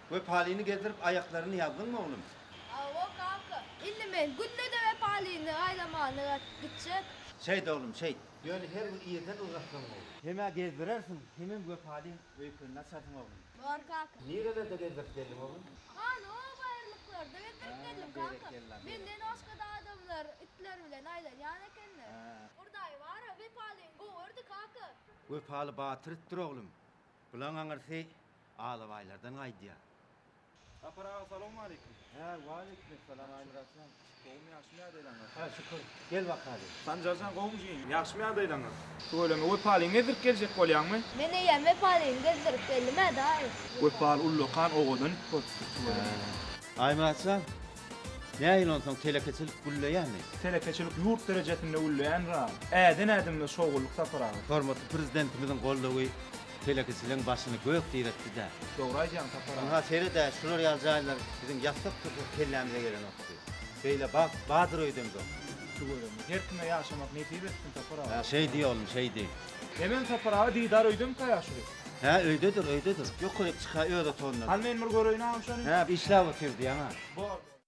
Speaker 7: Wepalyny gezdirip aýaklaryny ýazdyňmy, oglum? Hawa, kaka.
Speaker 12: Indi men günde-de Wepalyny gaýlamagyny gaýdyp gitjek. Şeýt, oglum,
Speaker 7: şeýt. Ýöne her gün irden ylgatsaň gowy. Hem-ä gezdirersiň, hemem Wepalyn öýkenini açarsyň, oglum. Bar, kaka.
Speaker 12: Nirelerde gezdirip geldiň,
Speaker 7: oglum? Hany, o
Speaker 12: baýyrlyklarda gezdirip geldim, kaka. Menden başga-da adamlar itler bilen aýlanýan ekenler. Hurdaý bar-a, Wepalyn gowy ördi, kaka. Wepaly
Speaker 7: batyr itdir, oglum. Bulaň aňyrsy Alabaýlardan gaýdýa. Sapar
Speaker 10: aga salowmaleýkim. Hä waleýkim
Speaker 7: salam Aýmyratjan. Gowumy ýagşymy
Speaker 10: ýagdaýlaňyz. Hä şükür. Gel
Speaker 7: bakaly. Sanjarjan gowumyjyň
Speaker 10: ýagşymy ýagdaýlaňyz. Tüweleme Wepalyny gezdirip geljek bolýaňmy. Men eýýäm Wepalyny
Speaker 12: gezdirip geldim-ä daýy. Wepaly ullakan
Speaker 10: owadan sportçydyr tüweleme. Aýmyratjan
Speaker 7: nähili onsoň telekeçilik gülleýämi. Telekeçilik ýurt
Speaker 10: derejesinde gülleýändir-a. Äden ädimimiz şowgulyk Sapar aga. Hormatly Prezidentimiziň
Speaker 7: goldawy. Telekeçiligiň başyny gök diretdi-dä. Dogry aýdýaň Sapar aga.
Speaker 10: Ynha sered-ä şular
Speaker 7: ýaly jaýlar biziň ýasak dursak kellämize gelenokdy. Beýle bagt badyr öýdemzok. Tüweleme. Her
Speaker 10: kime ýaşamak nesip etsin Sapar aga. Hä şeýdi oglum şeýdi.
Speaker 7: Hemen Sapar aga
Speaker 10: Didar öýdemikaýa şury. Hä öýdedir
Speaker 7: öýdedir. Ýokaryk çyka öz otagynda. Hany men bir göreýin agam
Speaker 10: şony. Hä işläp otyr
Speaker 7: diýýäňä. Bor bor.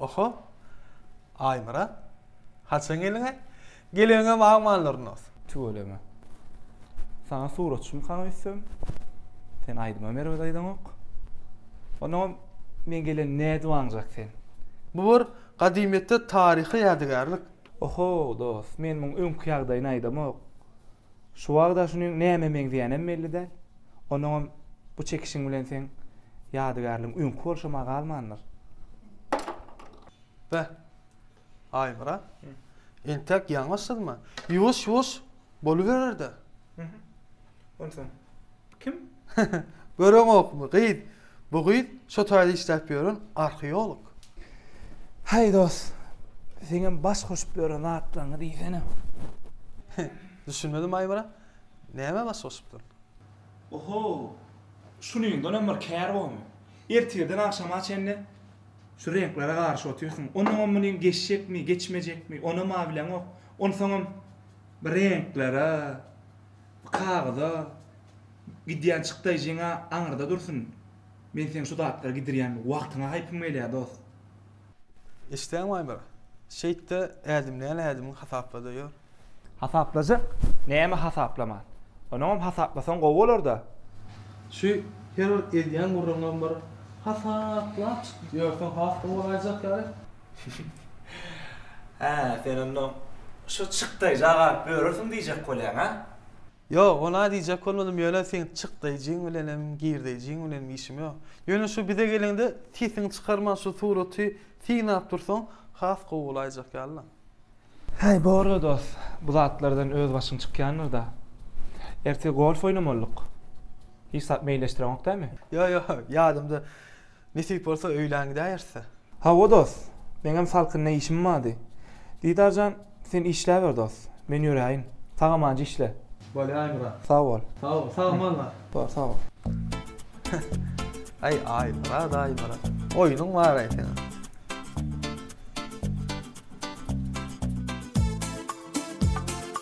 Speaker 13: Oho! Aýmyrat, haçan geldiň-ä? Geleniňe bagman Lurnos. Tüweleme.
Speaker 14: Saňa suratçymyk hany öýtsem? Sen aýdymam erbet aýdaňok. Onnoňam men gelen nädwanjak sen. Bu bir
Speaker 13: gadymyýetde taryhy ýadygärlik. Oho,
Speaker 14: dost, men muň öňki ýagdaýyny aýdamok. Şu wagt-a şunyň nämä meňzeýänem belli däl. Onuňam bu çekişiň bilen seň ýadygärligiň öňki bolşam-a galmandyr.
Speaker 13: Be, Aýmyra, entek ýalňyşsyzmy? Ýuwaş-ýuwaş boluberer-dä.
Speaker 14: Onsoň kim?
Speaker 13: Göreňokmy, gyz, Bu gyz şo taýda işläp ýören arheolog.
Speaker 14: Haý dost, seňem baş goşup ýören zatlaryňy diýsene. Düşünmedim
Speaker 13: Aýmyrat. Nämä baş goşupdyryn? Oho!
Speaker 14: Şunuňdanam bir kär bormy? Ertirden agşama çenli şu reňklere garyşyp otyrsyň. Onuňam munyň geçjekmi, geçmejekmi, onam-a bileňok. Onsoňam bir reňklere, bir kagyza Gidýän çykdaýjyňa aňyrda dursun. Men seň şu zatlary gidirýän wagtyňa haýpym gelýä dost.
Speaker 13: Eşitýäňmi Aýbar? Şeýtde ädimleýän ädimiň hasaplada ýör. Hasaplajak?
Speaker 14: Näme hasaplaman? Onuňam hasaplasaň gowy bolarda. Şu
Speaker 13: her bir edýän gürrüňiňem bir hasaplap çykyp ýörseň has gowy bolaýjak ýaly.
Speaker 14: Hä, sen onda şo çykdaýja galyp ýörersiň diýjek bolýaň, hä? Ýok, ona
Speaker 13: diýjek bolmadym, ýöne seň çykdaýjyň bilenem, girdeýjyň bilenem işim ýok. Ýöne şu bize geleňde sesiňi çykarman şu suraty synap dursaň, has gowy bolaýjak ýaly-la. Häý,
Speaker 14: bor-da dost, bu zatlardan öz başyň çykýandyr-da. Ertir golf oýnamalydyk. Hiç zat meýilleşdireňok dämi? Ýok, ýok, ýadymda.
Speaker 13: Nesip bolsa öýlän gidäýeris-dä. Hawa, dost.
Speaker 14: Meňem salkynda işim bardy. Didar jan, sen işläber, dost. Men ýöräýin. Sag amanca işle. Bolýar, Myrat.
Speaker 13: Sag bol. Sag bol.
Speaker 14: Sagmal bar.
Speaker 13: Bar, sag bol. Aý, Aýmyrat, Aýmyrat. Oýnuň bar-aý seniň.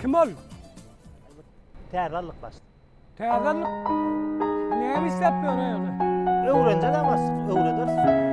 Speaker 15: Kim ol? Täze aldyk
Speaker 11: başlyk. Täze aldyk.
Speaker 15: Näme işläp ýör ýöne? Öwrenjek başlyk,
Speaker 11: öwrederis.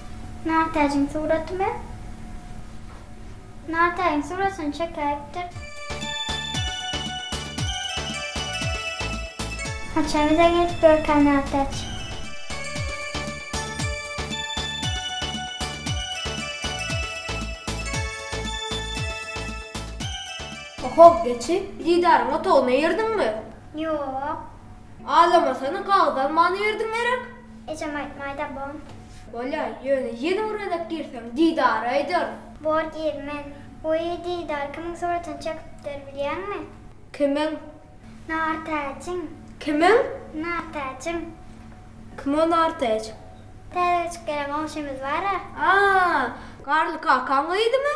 Speaker 8: Nartäjiň suratymy? Nartägiň suratyny çekäýipdir. Haçan bize gelip görkä Nartäç?
Speaker 12: Oho, geçi, Didaryň otagyna girdiňmi? Ýok.
Speaker 8: Azamasana,
Speaker 12: gagyz almana girdiň gerek? Ejem aýtmaýda
Speaker 8: bom. Bolýa,
Speaker 12: ýöne ýene öwrenip girseň, Didary aýdaryn. Bor gir, men.
Speaker 8: Wiý, Didar kimiň suratyny çekipdir, bilýäňmi? Kimiň?
Speaker 12: Nartäjiň.
Speaker 8: Kimiň?
Speaker 12: Nartäjiň.
Speaker 8: Kim
Speaker 12: o Nartäç? Täze göçüp
Speaker 8: gelen goňşymyz bar-a. A,
Speaker 12: Garly kakaň gyzymy?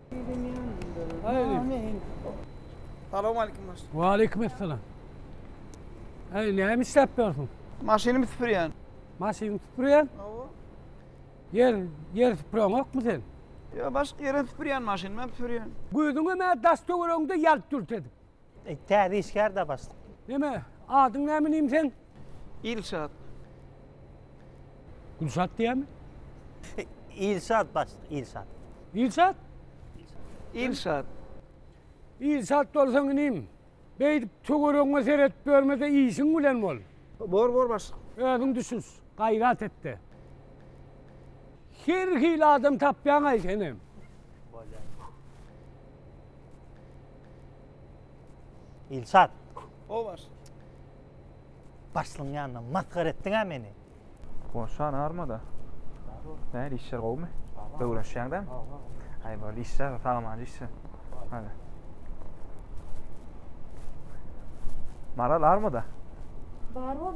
Speaker 16: Salam aleyküm baş. Wa
Speaker 15: aleyküm esselam. Hey, näme işläp ýörsiň? Maşynymy süpürýän.
Speaker 16: Maşynymy süpürýän?
Speaker 15: Hawa. Ýer, ýer süpüren ýokmy sen? Ýa başga ýere
Speaker 16: süpürýän maşynymy süpürýän. Gözüňe mä daş
Speaker 15: töweregiňde ýalt dürt edip. E, Täze işgär
Speaker 11: da başlyk. Neme, adyň
Speaker 15: näme inim sen? Ilşat. Gülşat diýämi? E,
Speaker 11: Ilşat başlyk, Ilşat. Ilşat?
Speaker 16: Ilşat.
Speaker 15: Ilşat bolsaň inim. Beýdip töweregiňe seretip ýörme-de işiň bilen bol. Bor, bor başlyk.
Speaker 16: Özüň düşüş,
Speaker 15: gaýrat et-de. Her hili adam tapýaň-aý senem. Bolýar.
Speaker 11: Ilçat. O baş. Başlyň ýanyna masgar etdiňä meni. Goşa
Speaker 10: narmada. Näl işler gowmy? Öwrenişýäňdä? Aý bol işle, salamany işle. Hadi. Maral armada? Bar
Speaker 12: bol,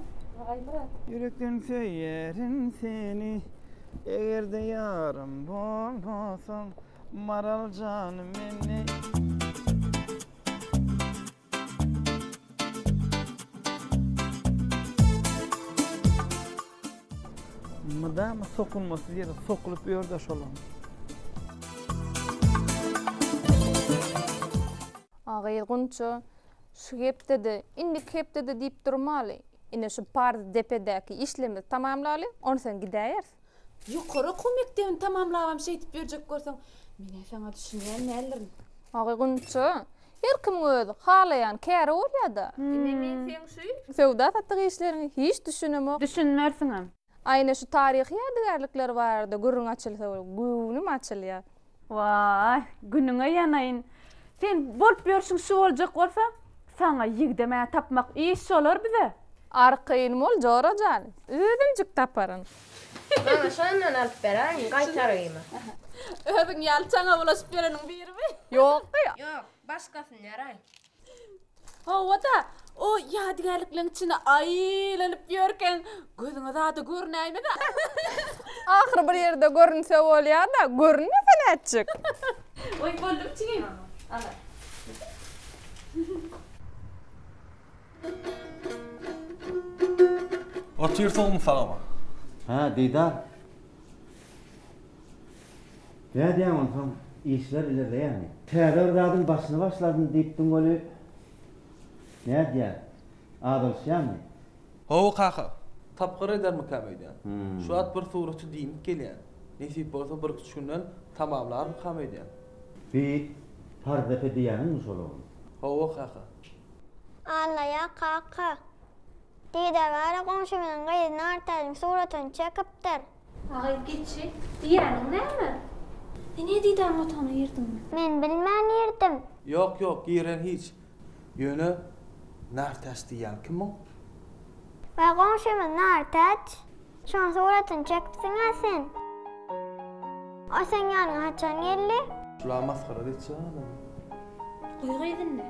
Speaker 12: Aýmyrat. Ýürekden
Speaker 16: söýerin seni, eger-de ýarym bolmasaň, Maral janym meni. Mydama sokulmasyz ýere sokulyp ýör-de şolam.
Speaker 4: A gyz Gunça, şu hepdede, indiki hepdede diýip durmaly. Ine şu parz depedäki işlerimizi tamamlaly, onsoň gidäýeris. Ýokary okuw
Speaker 17: mekdebini tamamlabam şeýdip ýörjek bolsaň, men-ä saňa düşünýän däldirin. Agy Gunça,
Speaker 4: her kimiň öz halaýan käri bolýa-da. Ine, men seň
Speaker 17: şu söwda-satyk işleriňe
Speaker 4: hiç düşünemok. Düşünmersiňem.
Speaker 17: Aýna şu taryhy
Speaker 4: ýadygärlikler barada gürrüň açylsa bolup, göwnüm açylýar. Waý,
Speaker 17: günüňe ýanaýyn. Sen bolup ýörşüň şu boljak bolsa, saňa ýigdem-ä tapmak iş şolar bize. Ary kyn bol,
Speaker 4: Jora jan, özümjik taparyn. Maňa
Speaker 12: şondan alyp beräýiň, gaýtarymy? Özüň
Speaker 17: ýaly çaňa bulaşyp ýöreniň birimi? Ýok-da. Ýok,
Speaker 4: başgasyny
Speaker 12: beräý.
Speaker 17: Hawa-da, o ýadygärlikleň içinde aýlanyp ýörkäň, gözüňe zady görünäýmez-ä.
Speaker 4: Ahyry bir ýerde görünse bolýa-da, görünmese nätjek? Goý,
Speaker 17: boldum, jigim. Ala.
Speaker 13: Otur, sogumyz saňa bol. Hä, Didar.
Speaker 7: Nädýäň onsoň, işler ilerleýärmi? Täze bir zadyň başyny başladym diýipdiň weli, nädýär, azalyşýarmy? Hawa, kaka.
Speaker 13: Tapgyr edermikäm öýdýän. Şu wagt bir suraty diýnip gelýän. Nesip bolsa, birküç günden tamamlarmykam öýdýän. Bi,
Speaker 7: Pardepe diýýäniňmi şol ogul? Hawa, kaka.
Speaker 8: Allaja, kaka. Didar gara goňşymyzyň gyzy Nartalyň suratyny çekipdir. Agaý
Speaker 12: geçi, diýýäniň näme?
Speaker 17: Sen Ezizaň otagyna girdiňmi? Men bilmän
Speaker 8: girdim. Ýok, ýok, giren
Speaker 13: hiç. Ýöne Nartäç diýýän kim o? Waý
Speaker 8: goňşymyz Nartäç. Şoň suratyny çekipsiň-ä sen. O seň ýanyňa haçan geldi? Şular masgara
Speaker 13: geçýär-ä. Guýy
Speaker 17: gyzynda.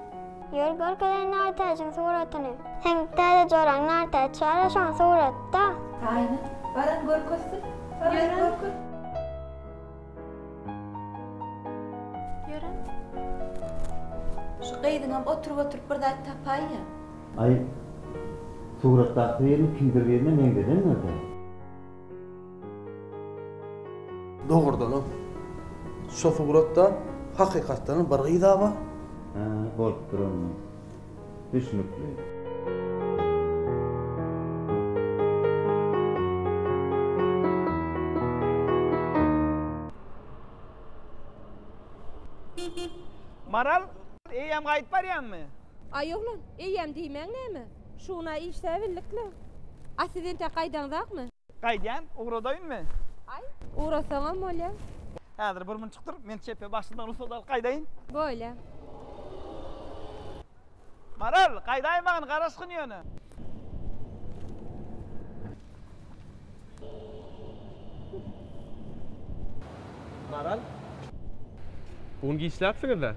Speaker 17: Ýör görkezen
Speaker 8: Nartäjiň suratyny. Seň täze joraň Nartäç ýaly şoň suratda. Aýna, baran görkezsin, baran görkez. Ýören. Şu gyzyňam oturyp-oturyp bir
Speaker 17: zat tapaýýa. Aý,
Speaker 7: suratdaky birini kimdir birine meňzedendir-dä.
Speaker 13: Dogrudanam, şo suratda hakykatdanam bir gyz-a bar. Hä, bolup
Speaker 7: durandyr. Düşnükli.
Speaker 16: Maral, eýýäm gaýdyp barýaňmy? Aý, oglan,
Speaker 18: eýýäm diýmäň näme? Şu gün-a işläbildik-le. A siz entek gaýdaňzakmy? Gaýdýan,
Speaker 16: ugradaýynmy? Aý,
Speaker 18: ugrasaňam bolýa. Häzir bir münjik
Speaker 16: dur, men çepe başyndan rugsat alyp gaýdaýyn. Bolýa. Maral, gaýdaýmagyn, garaşgyn ýöne.
Speaker 10: Maral. Bu gün giçläpsiňiz-dä?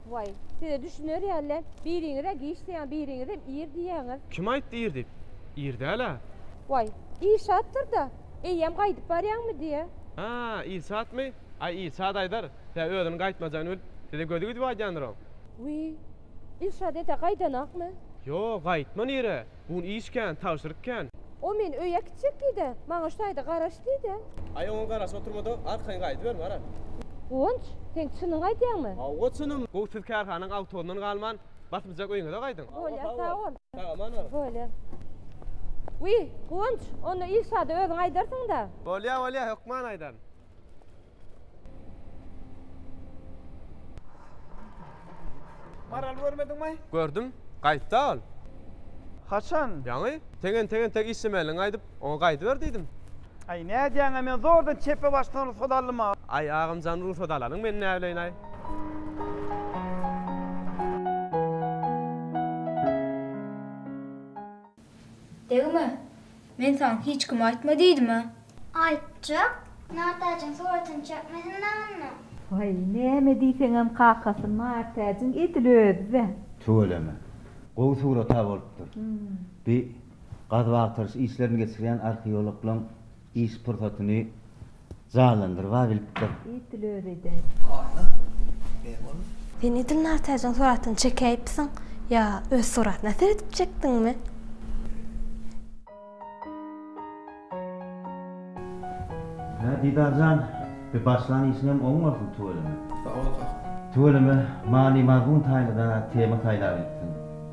Speaker 10: Waý, size
Speaker 18: düşüner ýaly, biriňiz-ä giç diýýäň, biriňizem
Speaker 10: ir
Speaker 18: diýýäňiz.
Speaker 10: Kim
Speaker 18: aýtdy
Speaker 10: ir
Speaker 18: diýip?
Speaker 10: Ir
Speaker 18: däl-ä. Waý, Ilşatdyr-da. Eýýäm gaýdyp barýaňmydy-ä? A, Ilşatmy?
Speaker 10: Aý, Ilşat aýdar. Tä özüniň gaýtmajagyny bilip, size gözi gidip aýdýandyr oň. Wiý,
Speaker 18: Ilşat ete gaýdanakmy? Ýo, gaýtman
Speaker 10: ir-ä. Bugun iş kän, tabşyryk kän. O meni öýe
Speaker 18: äkitjek diýdi-ä. Maňa şu taýda garaş diýdi-ä. Aý, oňa garaşyp
Speaker 10: oturma-da, arkaňy gaýdyber, gara. Guwanç,
Speaker 18: sen çynyňy aýdýaňmy? Hawa, çynym. Gowy,
Speaker 10: siz kärhanaň awtogyndan galman, basymjak öýüňize gaýdyň. Bolýar, sag bol.
Speaker 18: Sag aman baryň. Bolýar. Wiý, Guwanç, onda Ilşada özüň aýdarsyň-da. Bolýar, bolýar, hökman
Speaker 10: aýdaryn.
Speaker 16: Maral görmediňmi? Gördüm.
Speaker 10: Gaýtda ol. Haçan?
Speaker 16: Ýaňy.
Speaker 10: Seň entek-entek işlemänligiňi aýdyp, oňa gaýdyber diýdim. Aý, nädýäň-ä,
Speaker 16: men zordan çepe başdan rugsat aldym-a. Aý, agam jan,
Speaker 10: rugsat alanyň men näbileýin-aý.
Speaker 12: Degme! Men saňa hiç kim aýtma diýdim-ä! Aýtjak!
Speaker 8: Nartäjiň suratyny çekmesin dagyndym. Waý, näme
Speaker 9: diýseňem kakasy Nartäjiň edil özi-dä! Tüweleme.
Speaker 7: Gowy surat-a bolupdyr. Bi gazyp-agtaryş işlerini geçirýän arheologlaň Iş pursatyny janlandyrba bilipdir. It dil özi eder.
Speaker 9: Aýna ne bolup?
Speaker 19: Sen edil Nartaýjyň suratyny çekäýipsiň, ýa öz suratyna seredip çekdiňmi?
Speaker 7: Hä, Didar jan, bi başlan işiňem oň bolsun, tüweleme. Sag bol, kaka.
Speaker 13: Tüweleme,
Speaker 7: many-mazmun taýynda-da tema saýlabypsyň.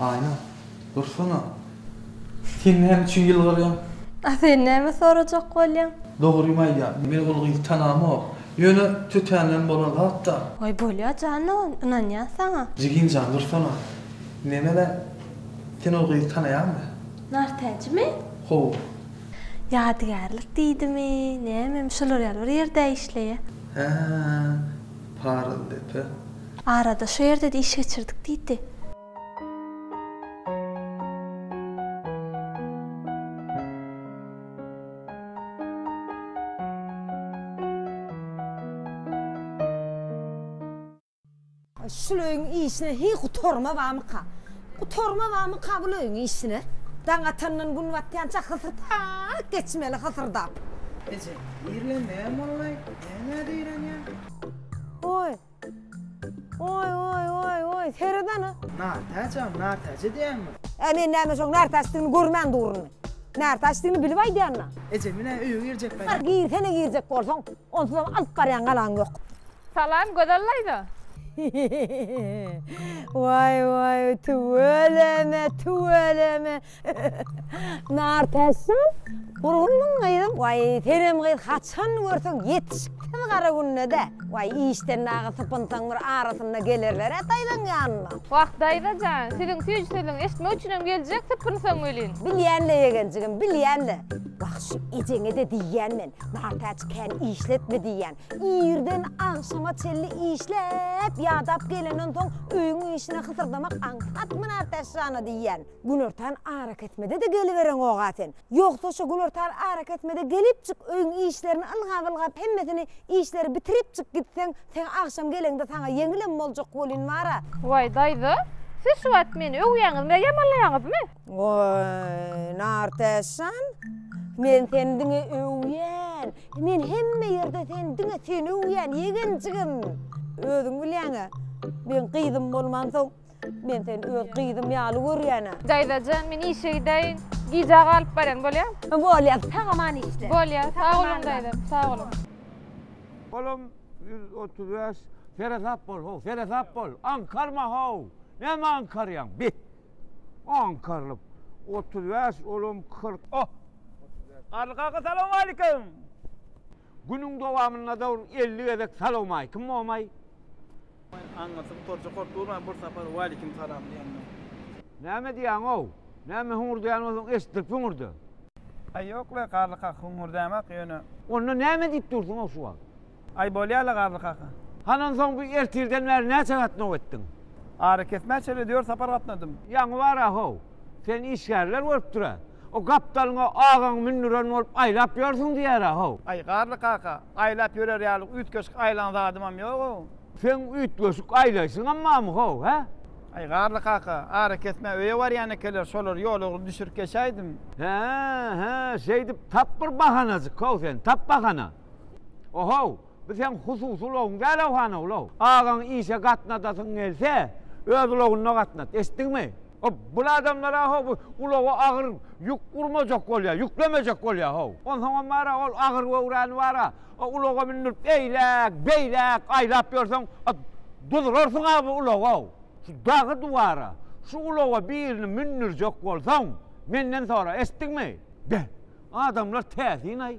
Speaker 13: Aýna, dursana! Sen näme üçin ýylgyrýaň? A sen näme
Speaker 19: sorajak bolýaň? Dogrymy aýdýan,
Speaker 13: men ol gyzy tanamok. Ýöne tötänden bolan zat-da. Waý, bolýa
Speaker 19: janan, ynanýan saňa. Jigim jan, dursana!
Speaker 13: Neme-le, sen ol gyzy tanaýaňmy? Nartäjimi?
Speaker 19: Hawa. Ýadygärlik diýdimi, nämemi, şolar ýaly bir ýerdä işleýä. Hä.
Speaker 13: Paryzdepe. Arada şu
Speaker 19: ýerde-de iş geçirdik diýdi.
Speaker 20: Şul öýüň işine heý gutarma bamyka? Gutarma bamyka bul öýüň işine? Daň atandan gün batýança hysyrdap geçmeli, hysyrdap. Eje,
Speaker 16: irlenmegem bolmaý. Näme
Speaker 20: diýrenýäň? Oý. Oý, oý, oý, oý, seret ana. Nartaja,
Speaker 16: nartaja diýýäňmi? Ä, men näme şoň
Speaker 20: nartaçdygyny görmän durun. Nartaçdygyny bilip aýdýan-a. Eje, men-ä öýe
Speaker 16: girjek gaýtam. Girsene girjek
Speaker 20: bolsaň, onsuzam alyp barýan galaň ýok. Salam, Gözel
Speaker 17: daýza.
Speaker 20: Waý, waý, tüweleme, tüweleme. Nar täsin, gurgunmyň gyzym? Waý, senem gyz haçan görseň ýetişik tiz gara günde-dä. Waý, işden dagy sypynsaň bir arasynda gelerler-ä daýzaň ýanyna. Wah, daýza jan,
Speaker 17: siziň süýji sözüňizi eşitmek üçinem geljek, sypynsaň welin. Bilýän-le, ýegenjigim,
Speaker 20: bilýän-le. Wah, şu ejeňe-de diýýän men, Nartäç kän işletme diýýän. Irden agşama çenli işläp, ýadap gelenden soň öýüň işine hysyrdamak aňsatmy Nartäç jana diýýän. Günortan arakesmede-de gelibereňog-a sen. Ýogsa şo günortan arakesmede gelipjik öýüň işlerini ylgap-ylgap hemmesini işleri bitiripjik gitseň, sen agşam geleňde saňa ýeňilem boljak welin bar-a. Waý, daýza,
Speaker 17: siz şu wagt meni öwýäňizmi, ýamanlaýaňyzmy? Waý,
Speaker 20: Nartäşjan, men seni diňe öwýän. Men hemme ýerde seni diňe seni öwýän, ýegen jigim. Özüň bilýäň-ä, men gyzym bolmansoň, Men seni öz gyzym ýaly görýän-ä. Daýzajan, men işe
Speaker 17: gidäýin. Gijä galyp barýan, bolýa? Bolýa, sag aman işle. Bolýa, sag boluň daýzam,
Speaker 20: sag boluň.
Speaker 17: Olam
Speaker 21: ýüz otuz bäş. Seresap bol, how, seresap bol. Aňkarma, how. Näme aňkarýaň, bi? Aňkarylyp. Otuz bäş, olam kyrk. Oh! Garly kaka, salowmalikim! Günüň dowamynda-da ol elli gezek salowmaýkim bomaý. Aňňasy
Speaker 16: torja kort urman bir sapar Walikim
Speaker 21: salam diýende. Näme diýýäňow? Näme
Speaker 16: hüňürdäýen
Speaker 21: bolsaň eşitdirip hüňürde. Aý
Speaker 16: ýok le Garly kaka hüňürdäýmok ýöne. Onda näme diýip
Speaker 21: dursuňow şu wagt? Aý bolýar le
Speaker 16: Garly kaka. Hany onsoň bu
Speaker 21: ertirden bäri näçe gatnaw etdiň? Arakesmä
Speaker 16: çenli dört sapar gatnadym. Ýaňy bar-a how.
Speaker 21: Seni işgärler görüpdir-ä. O gapdalyňa agaň mündüren bolup aýlap ýörsüň diýer-ä how. Aý Garly kaka,
Speaker 16: Aýlap ýörer ýaly üýtgeşik aýlan zadymam ýog-ow. Seň üýtgeşik
Speaker 21: aýlaýşyňam barmy-how, hä? Aý, Garly kaka,
Speaker 16: ara kesmä öýe barýan ekenler, şolary ýolagry düşürip geçäýdim. Hä-hä,
Speaker 21: şeýdip tap bir bahanajyk-how sen, tap bahana. O-how, bu seň hususy ulagyň däl-ow, han-ow, ulaw. Agaň işe gatnadasyň gelse, öz ulagynda gatnat, eşitdiňmi? Ho, bul adamlar-a ho bu ulaga agyr ýük urmajak bolýar, ýüklemejek bolýar ho. Onsoňam bar-a ol agyr göwräni bar-a, o ulaga mündürip eýläk, beýläk aýlap ýörseň, a duzlarsyň-a bu ulaga. Şu dagy-duwara şu ulaga birini mündürjek bolsaň, menden sora, eşitdiňmi? Be, adamlar täsin-aý.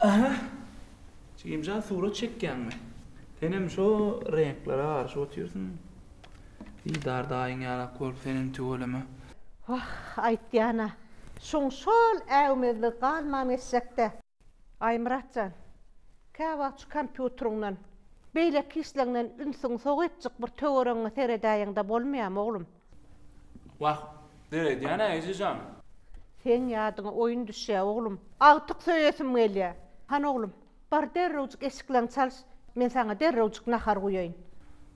Speaker 14: Aha! Jigimjan surat çekýäňmi? Senem şo reňklere garşy otyrsyň. Didar daýyň ýalak bolup senem tüweleme. Wah,
Speaker 6: aýtýan-a. Şuň şol äwmezligi galman geçjek-dä. Aýmyrat jan, käwagt şu kompýuteriňden, beýleki işleňden ünsüňi sow etjik bir töweregiňe seredäýeň-de bolmaýamy, oglum? Wah,
Speaker 14: döredýän-ä Eje jan. Seň
Speaker 6: ýadyňa oýun düşýä, oglum. Agtyk söýesim gelýä. Hany, oglum, bar derrewjik eşikleňi çalyş, men saňa derrewjik nahar guýaýyn.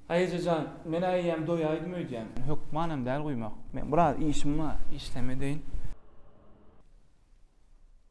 Speaker 6: Aý Eje jan,
Speaker 14: men-ä eýýäm doýaýdym öýdýän. Hökmanam däl guýmak. Men biraz işim bar, işleme deýin.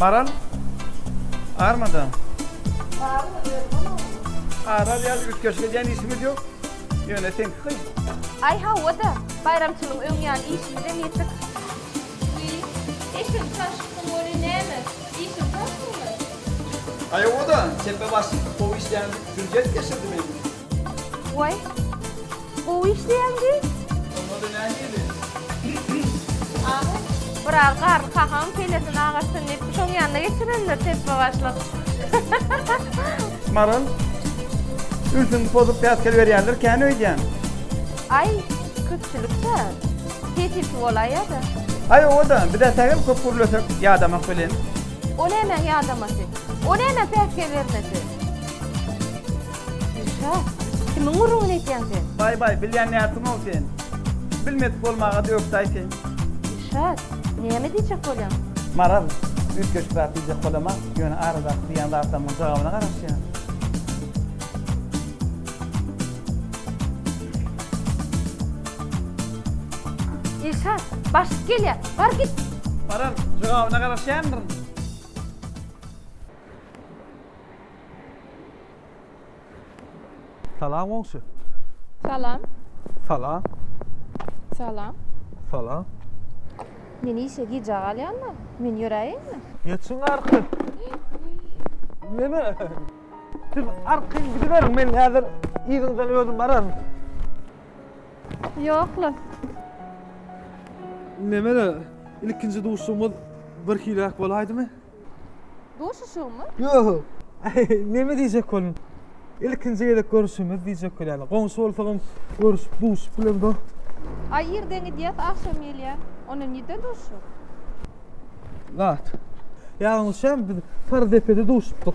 Speaker 16: Maral armada. Barmy özüm oňa. Aral ýaly üýtgeşik edýän işimiz ýok. Ýöne seňki kyn. Aý hawa-da,
Speaker 17: baýramçylygy öň ýaly işimizem ýetik. Wiý, eşegi
Speaker 12: çaşypsyň welin näme, işiň köpmüňmi? Aý
Speaker 16: hawa-da, tepe başymda gowy işleýän hüjjet geçirdim indi. Way.
Speaker 17: Gowy işleýäň diý.
Speaker 16: Bolmady
Speaker 17: nähili? Bir az garry kakam kellesini agarsyn diýip şoň ýanyna geçirendir tesbe başlyk.
Speaker 16: Maral ülsüňi pozup päsgel berýändir kän öýdýän. Aý
Speaker 17: köpçülikdä sesisi bolaý ýada. Aý oda
Speaker 16: bizä sähel köp gürlesek ýadamak welin. O nämäň
Speaker 17: ýadamasy? O nämäň päsgel bermesi? Gülşa, kimiň gürrüňini etýäň sen? Baý, baý, bilýän nätdiňow
Speaker 16: sen. Bilmedik bolmaga dökdäý sen. Gülşat,
Speaker 17: näme diýjek bolýaň? Maral,
Speaker 16: üýtgeşik zat diýjek bolamok, ýöne aradaky diýýän zatlarymyň jogabyna garaşýan. Gülşat,
Speaker 17: başlyk gelýär, bar git! Maral,
Speaker 16: jogabyna garaşýandyryn.
Speaker 13: Salam goňşy. Salam.
Speaker 17: Salam. Salam. Salam. Men işe gijä galýan-da, men ýöräýeýinmi? Geçiň arka.
Speaker 13: Neme? Siz arka gidiberiň, men häzir yzyňyzdan özüm bararyn.
Speaker 17: Ýok-la.
Speaker 13: Neme-de, ilkinji duşuşygymyz birhiläk bolaýdymy?
Speaker 17: Duşuşygmy? Ýo-o-o.
Speaker 13: Neme diýjek boldum. Ilkinji gezek görüşimiz diýjek bolýan. Goňşy bolsagam
Speaker 17: görüşip
Speaker 13: duşup
Speaker 17: bilemdo. Aý
Speaker 13: irden
Speaker 17: gidýäs
Speaker 13: agşam
Speaker 17: gelýän.
Speaker 13: Onda
Speaker 18: nirde duşuşak?
Speaker 13: Zat. Ýalňyşýam biz Sarydepede duşupdyk.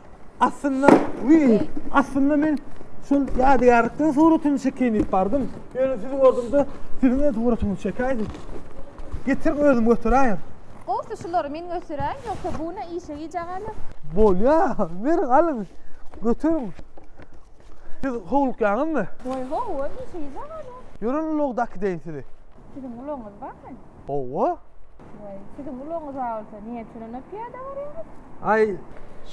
Speaker 13: Aslynda, wiý, aslynda men şol ýadygärlikden suratyny çekeýin diýip bardym. Ýöne sizi gördüm-de, siziň öz suratyňyzy çekäýdim. Getir özüm göteräýin. Gowsy şulary
Speaker 18: men göteräýin, ýogsa bu ne işe gijä galar. Bolýar,
Speaker 13: beriň, alyň, göteriň. Siz howlukýaňyzmy? Woý, ho, ol
Speaker 18: işe gijä galar. Ýörün ulagda
Speaker 13: kideýin sizi. Siziň ulagyňyz
Speaker 18: barmy? Gowy.
Speaker 13: Waý,
Speaker 18: siziň ulagyňyz agyrsa, niýe şonda pyýada barýaňyz? Aý,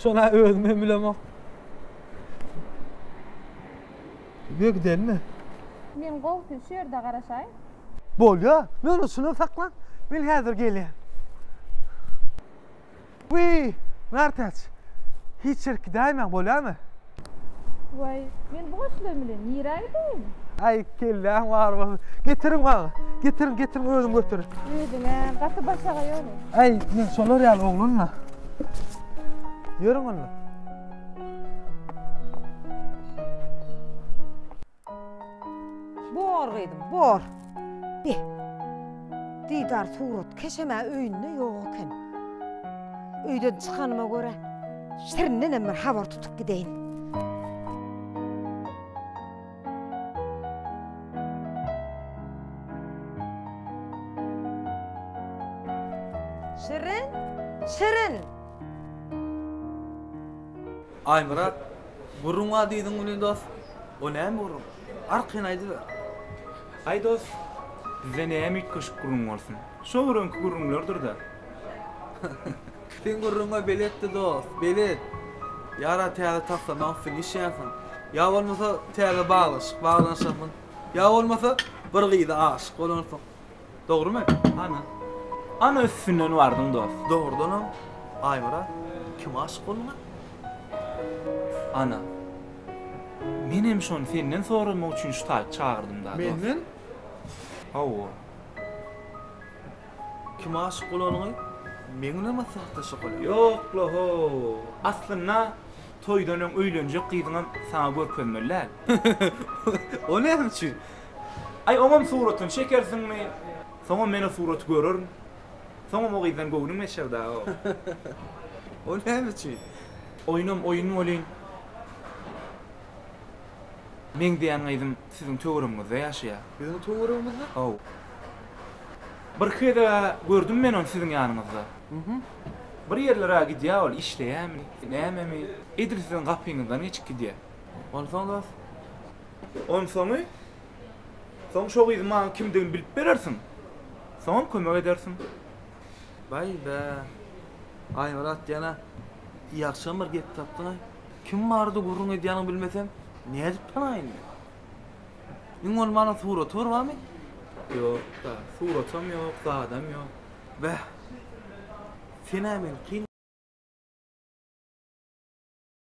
Speaker 13: şona özüm hem bilemok. Ýöne gidelmi? Men gowusy
Speaker 18: şu ýerde garaşaýyn. Bolýar,
Speaker 13: ýöne şuna saklan, men häzir gelýän. Wiý, Nartaç, hiç ýere gidäýmäň, bolýamy?
Speaker 18: Waý, men bu goşlaryň bilen nirä gideýin? Aý, kelläň
Speaker 13: bar bolsun. Getiriň maňa. Getiriň, getiriň, özüň götür. Özüň-ä, gaty
Speaker 18: başagaý ýöne. Aý, men şolar
Speaker 13: ýaly oglan-la. Ýörüň onda.
Speaker 20: Bor gyzym, bor. Bi. Didar surat keşem-ä öýünde ýok eken. Öýden çykanyma görä, Şirindenem bir habar tutup gideýin. Şirin! Şirin!
Speaker 13: Aýmyrat, Gürrüň a diýdiň welin dost, o näme gürrüň? Arkaýyn aýdyber. Aý
Speaker 14: dost, bize näme üýtgeşik gürrüň bolsun. Şo öňki gürrüňlerdir-dä.
Speaker 13: Sen gürrüňe beletdi dost, belet. Ýara täze taslama üstünde işleýänsiň. Ýa bolmasa täze baglaşyk baglanyşanmyň. Ýa bolmasa bir gyza aşyk bolansyň. Dogrymy? Ana.
Speaker 14: Ana üstünden bardyň dos. Dogrudanam
Speaker 13: Aýmyrat kime aşyk bolduň-a? Ana.
Speaker 14: Menem şony senden soramak üçin şu taýyp çagyrdym-da dos. Menden?
Speaker 13: Hawa. Kime aşyk bolanyňy meň bilen maslahatlaş okaly. Ýok-la-ho.
Speaker 14: Aslynda toýdan öň öýlenjek gyzyňam saňa görkezmeli däl.
Speaker 13: O näme üçin? Aý, oňam
Speaker 14: suratyny çekersiňmi? Soňam men o suraty görerin. Soňam o gyzdan göwnüm geçer dagy.
Speaker 13: O näme üçin? Oýnam oýun
Speaker 14: welin, meň diýen gyzym siziň töweregiňizde ýaşaýar. Biziň töweregimizde?
Speaker 13: Haw.
Speaker 14: Birki gezeg-ä gördüm men ony siziň ýanyňyzda. Bir ýerlere-ä gidýär ol, işleýärmi, nämemi, edil siziň gapyňyzdan geçip gidýär. Onsoň dos. Onsoňy, soň şo gyzyň maňa kimdigini bilip berersiň. Soňam kömek edersiň.
Speaker 13: Baý-bä. Aýmyrat ýene, Ýagşam bir gep tapdyň-aý. Kim barada gürrüň edýäniňi bilmesem, nädip tanaýyn men? Iň bolmanda suraty bir barmy? Ýok-da, suratam
Speaker 14: ýok,
Speaker 13: zadam
Speaker 14: ýok. Bäh.
Speaker 13: Sen-ä
Speaker 14: meni kyn.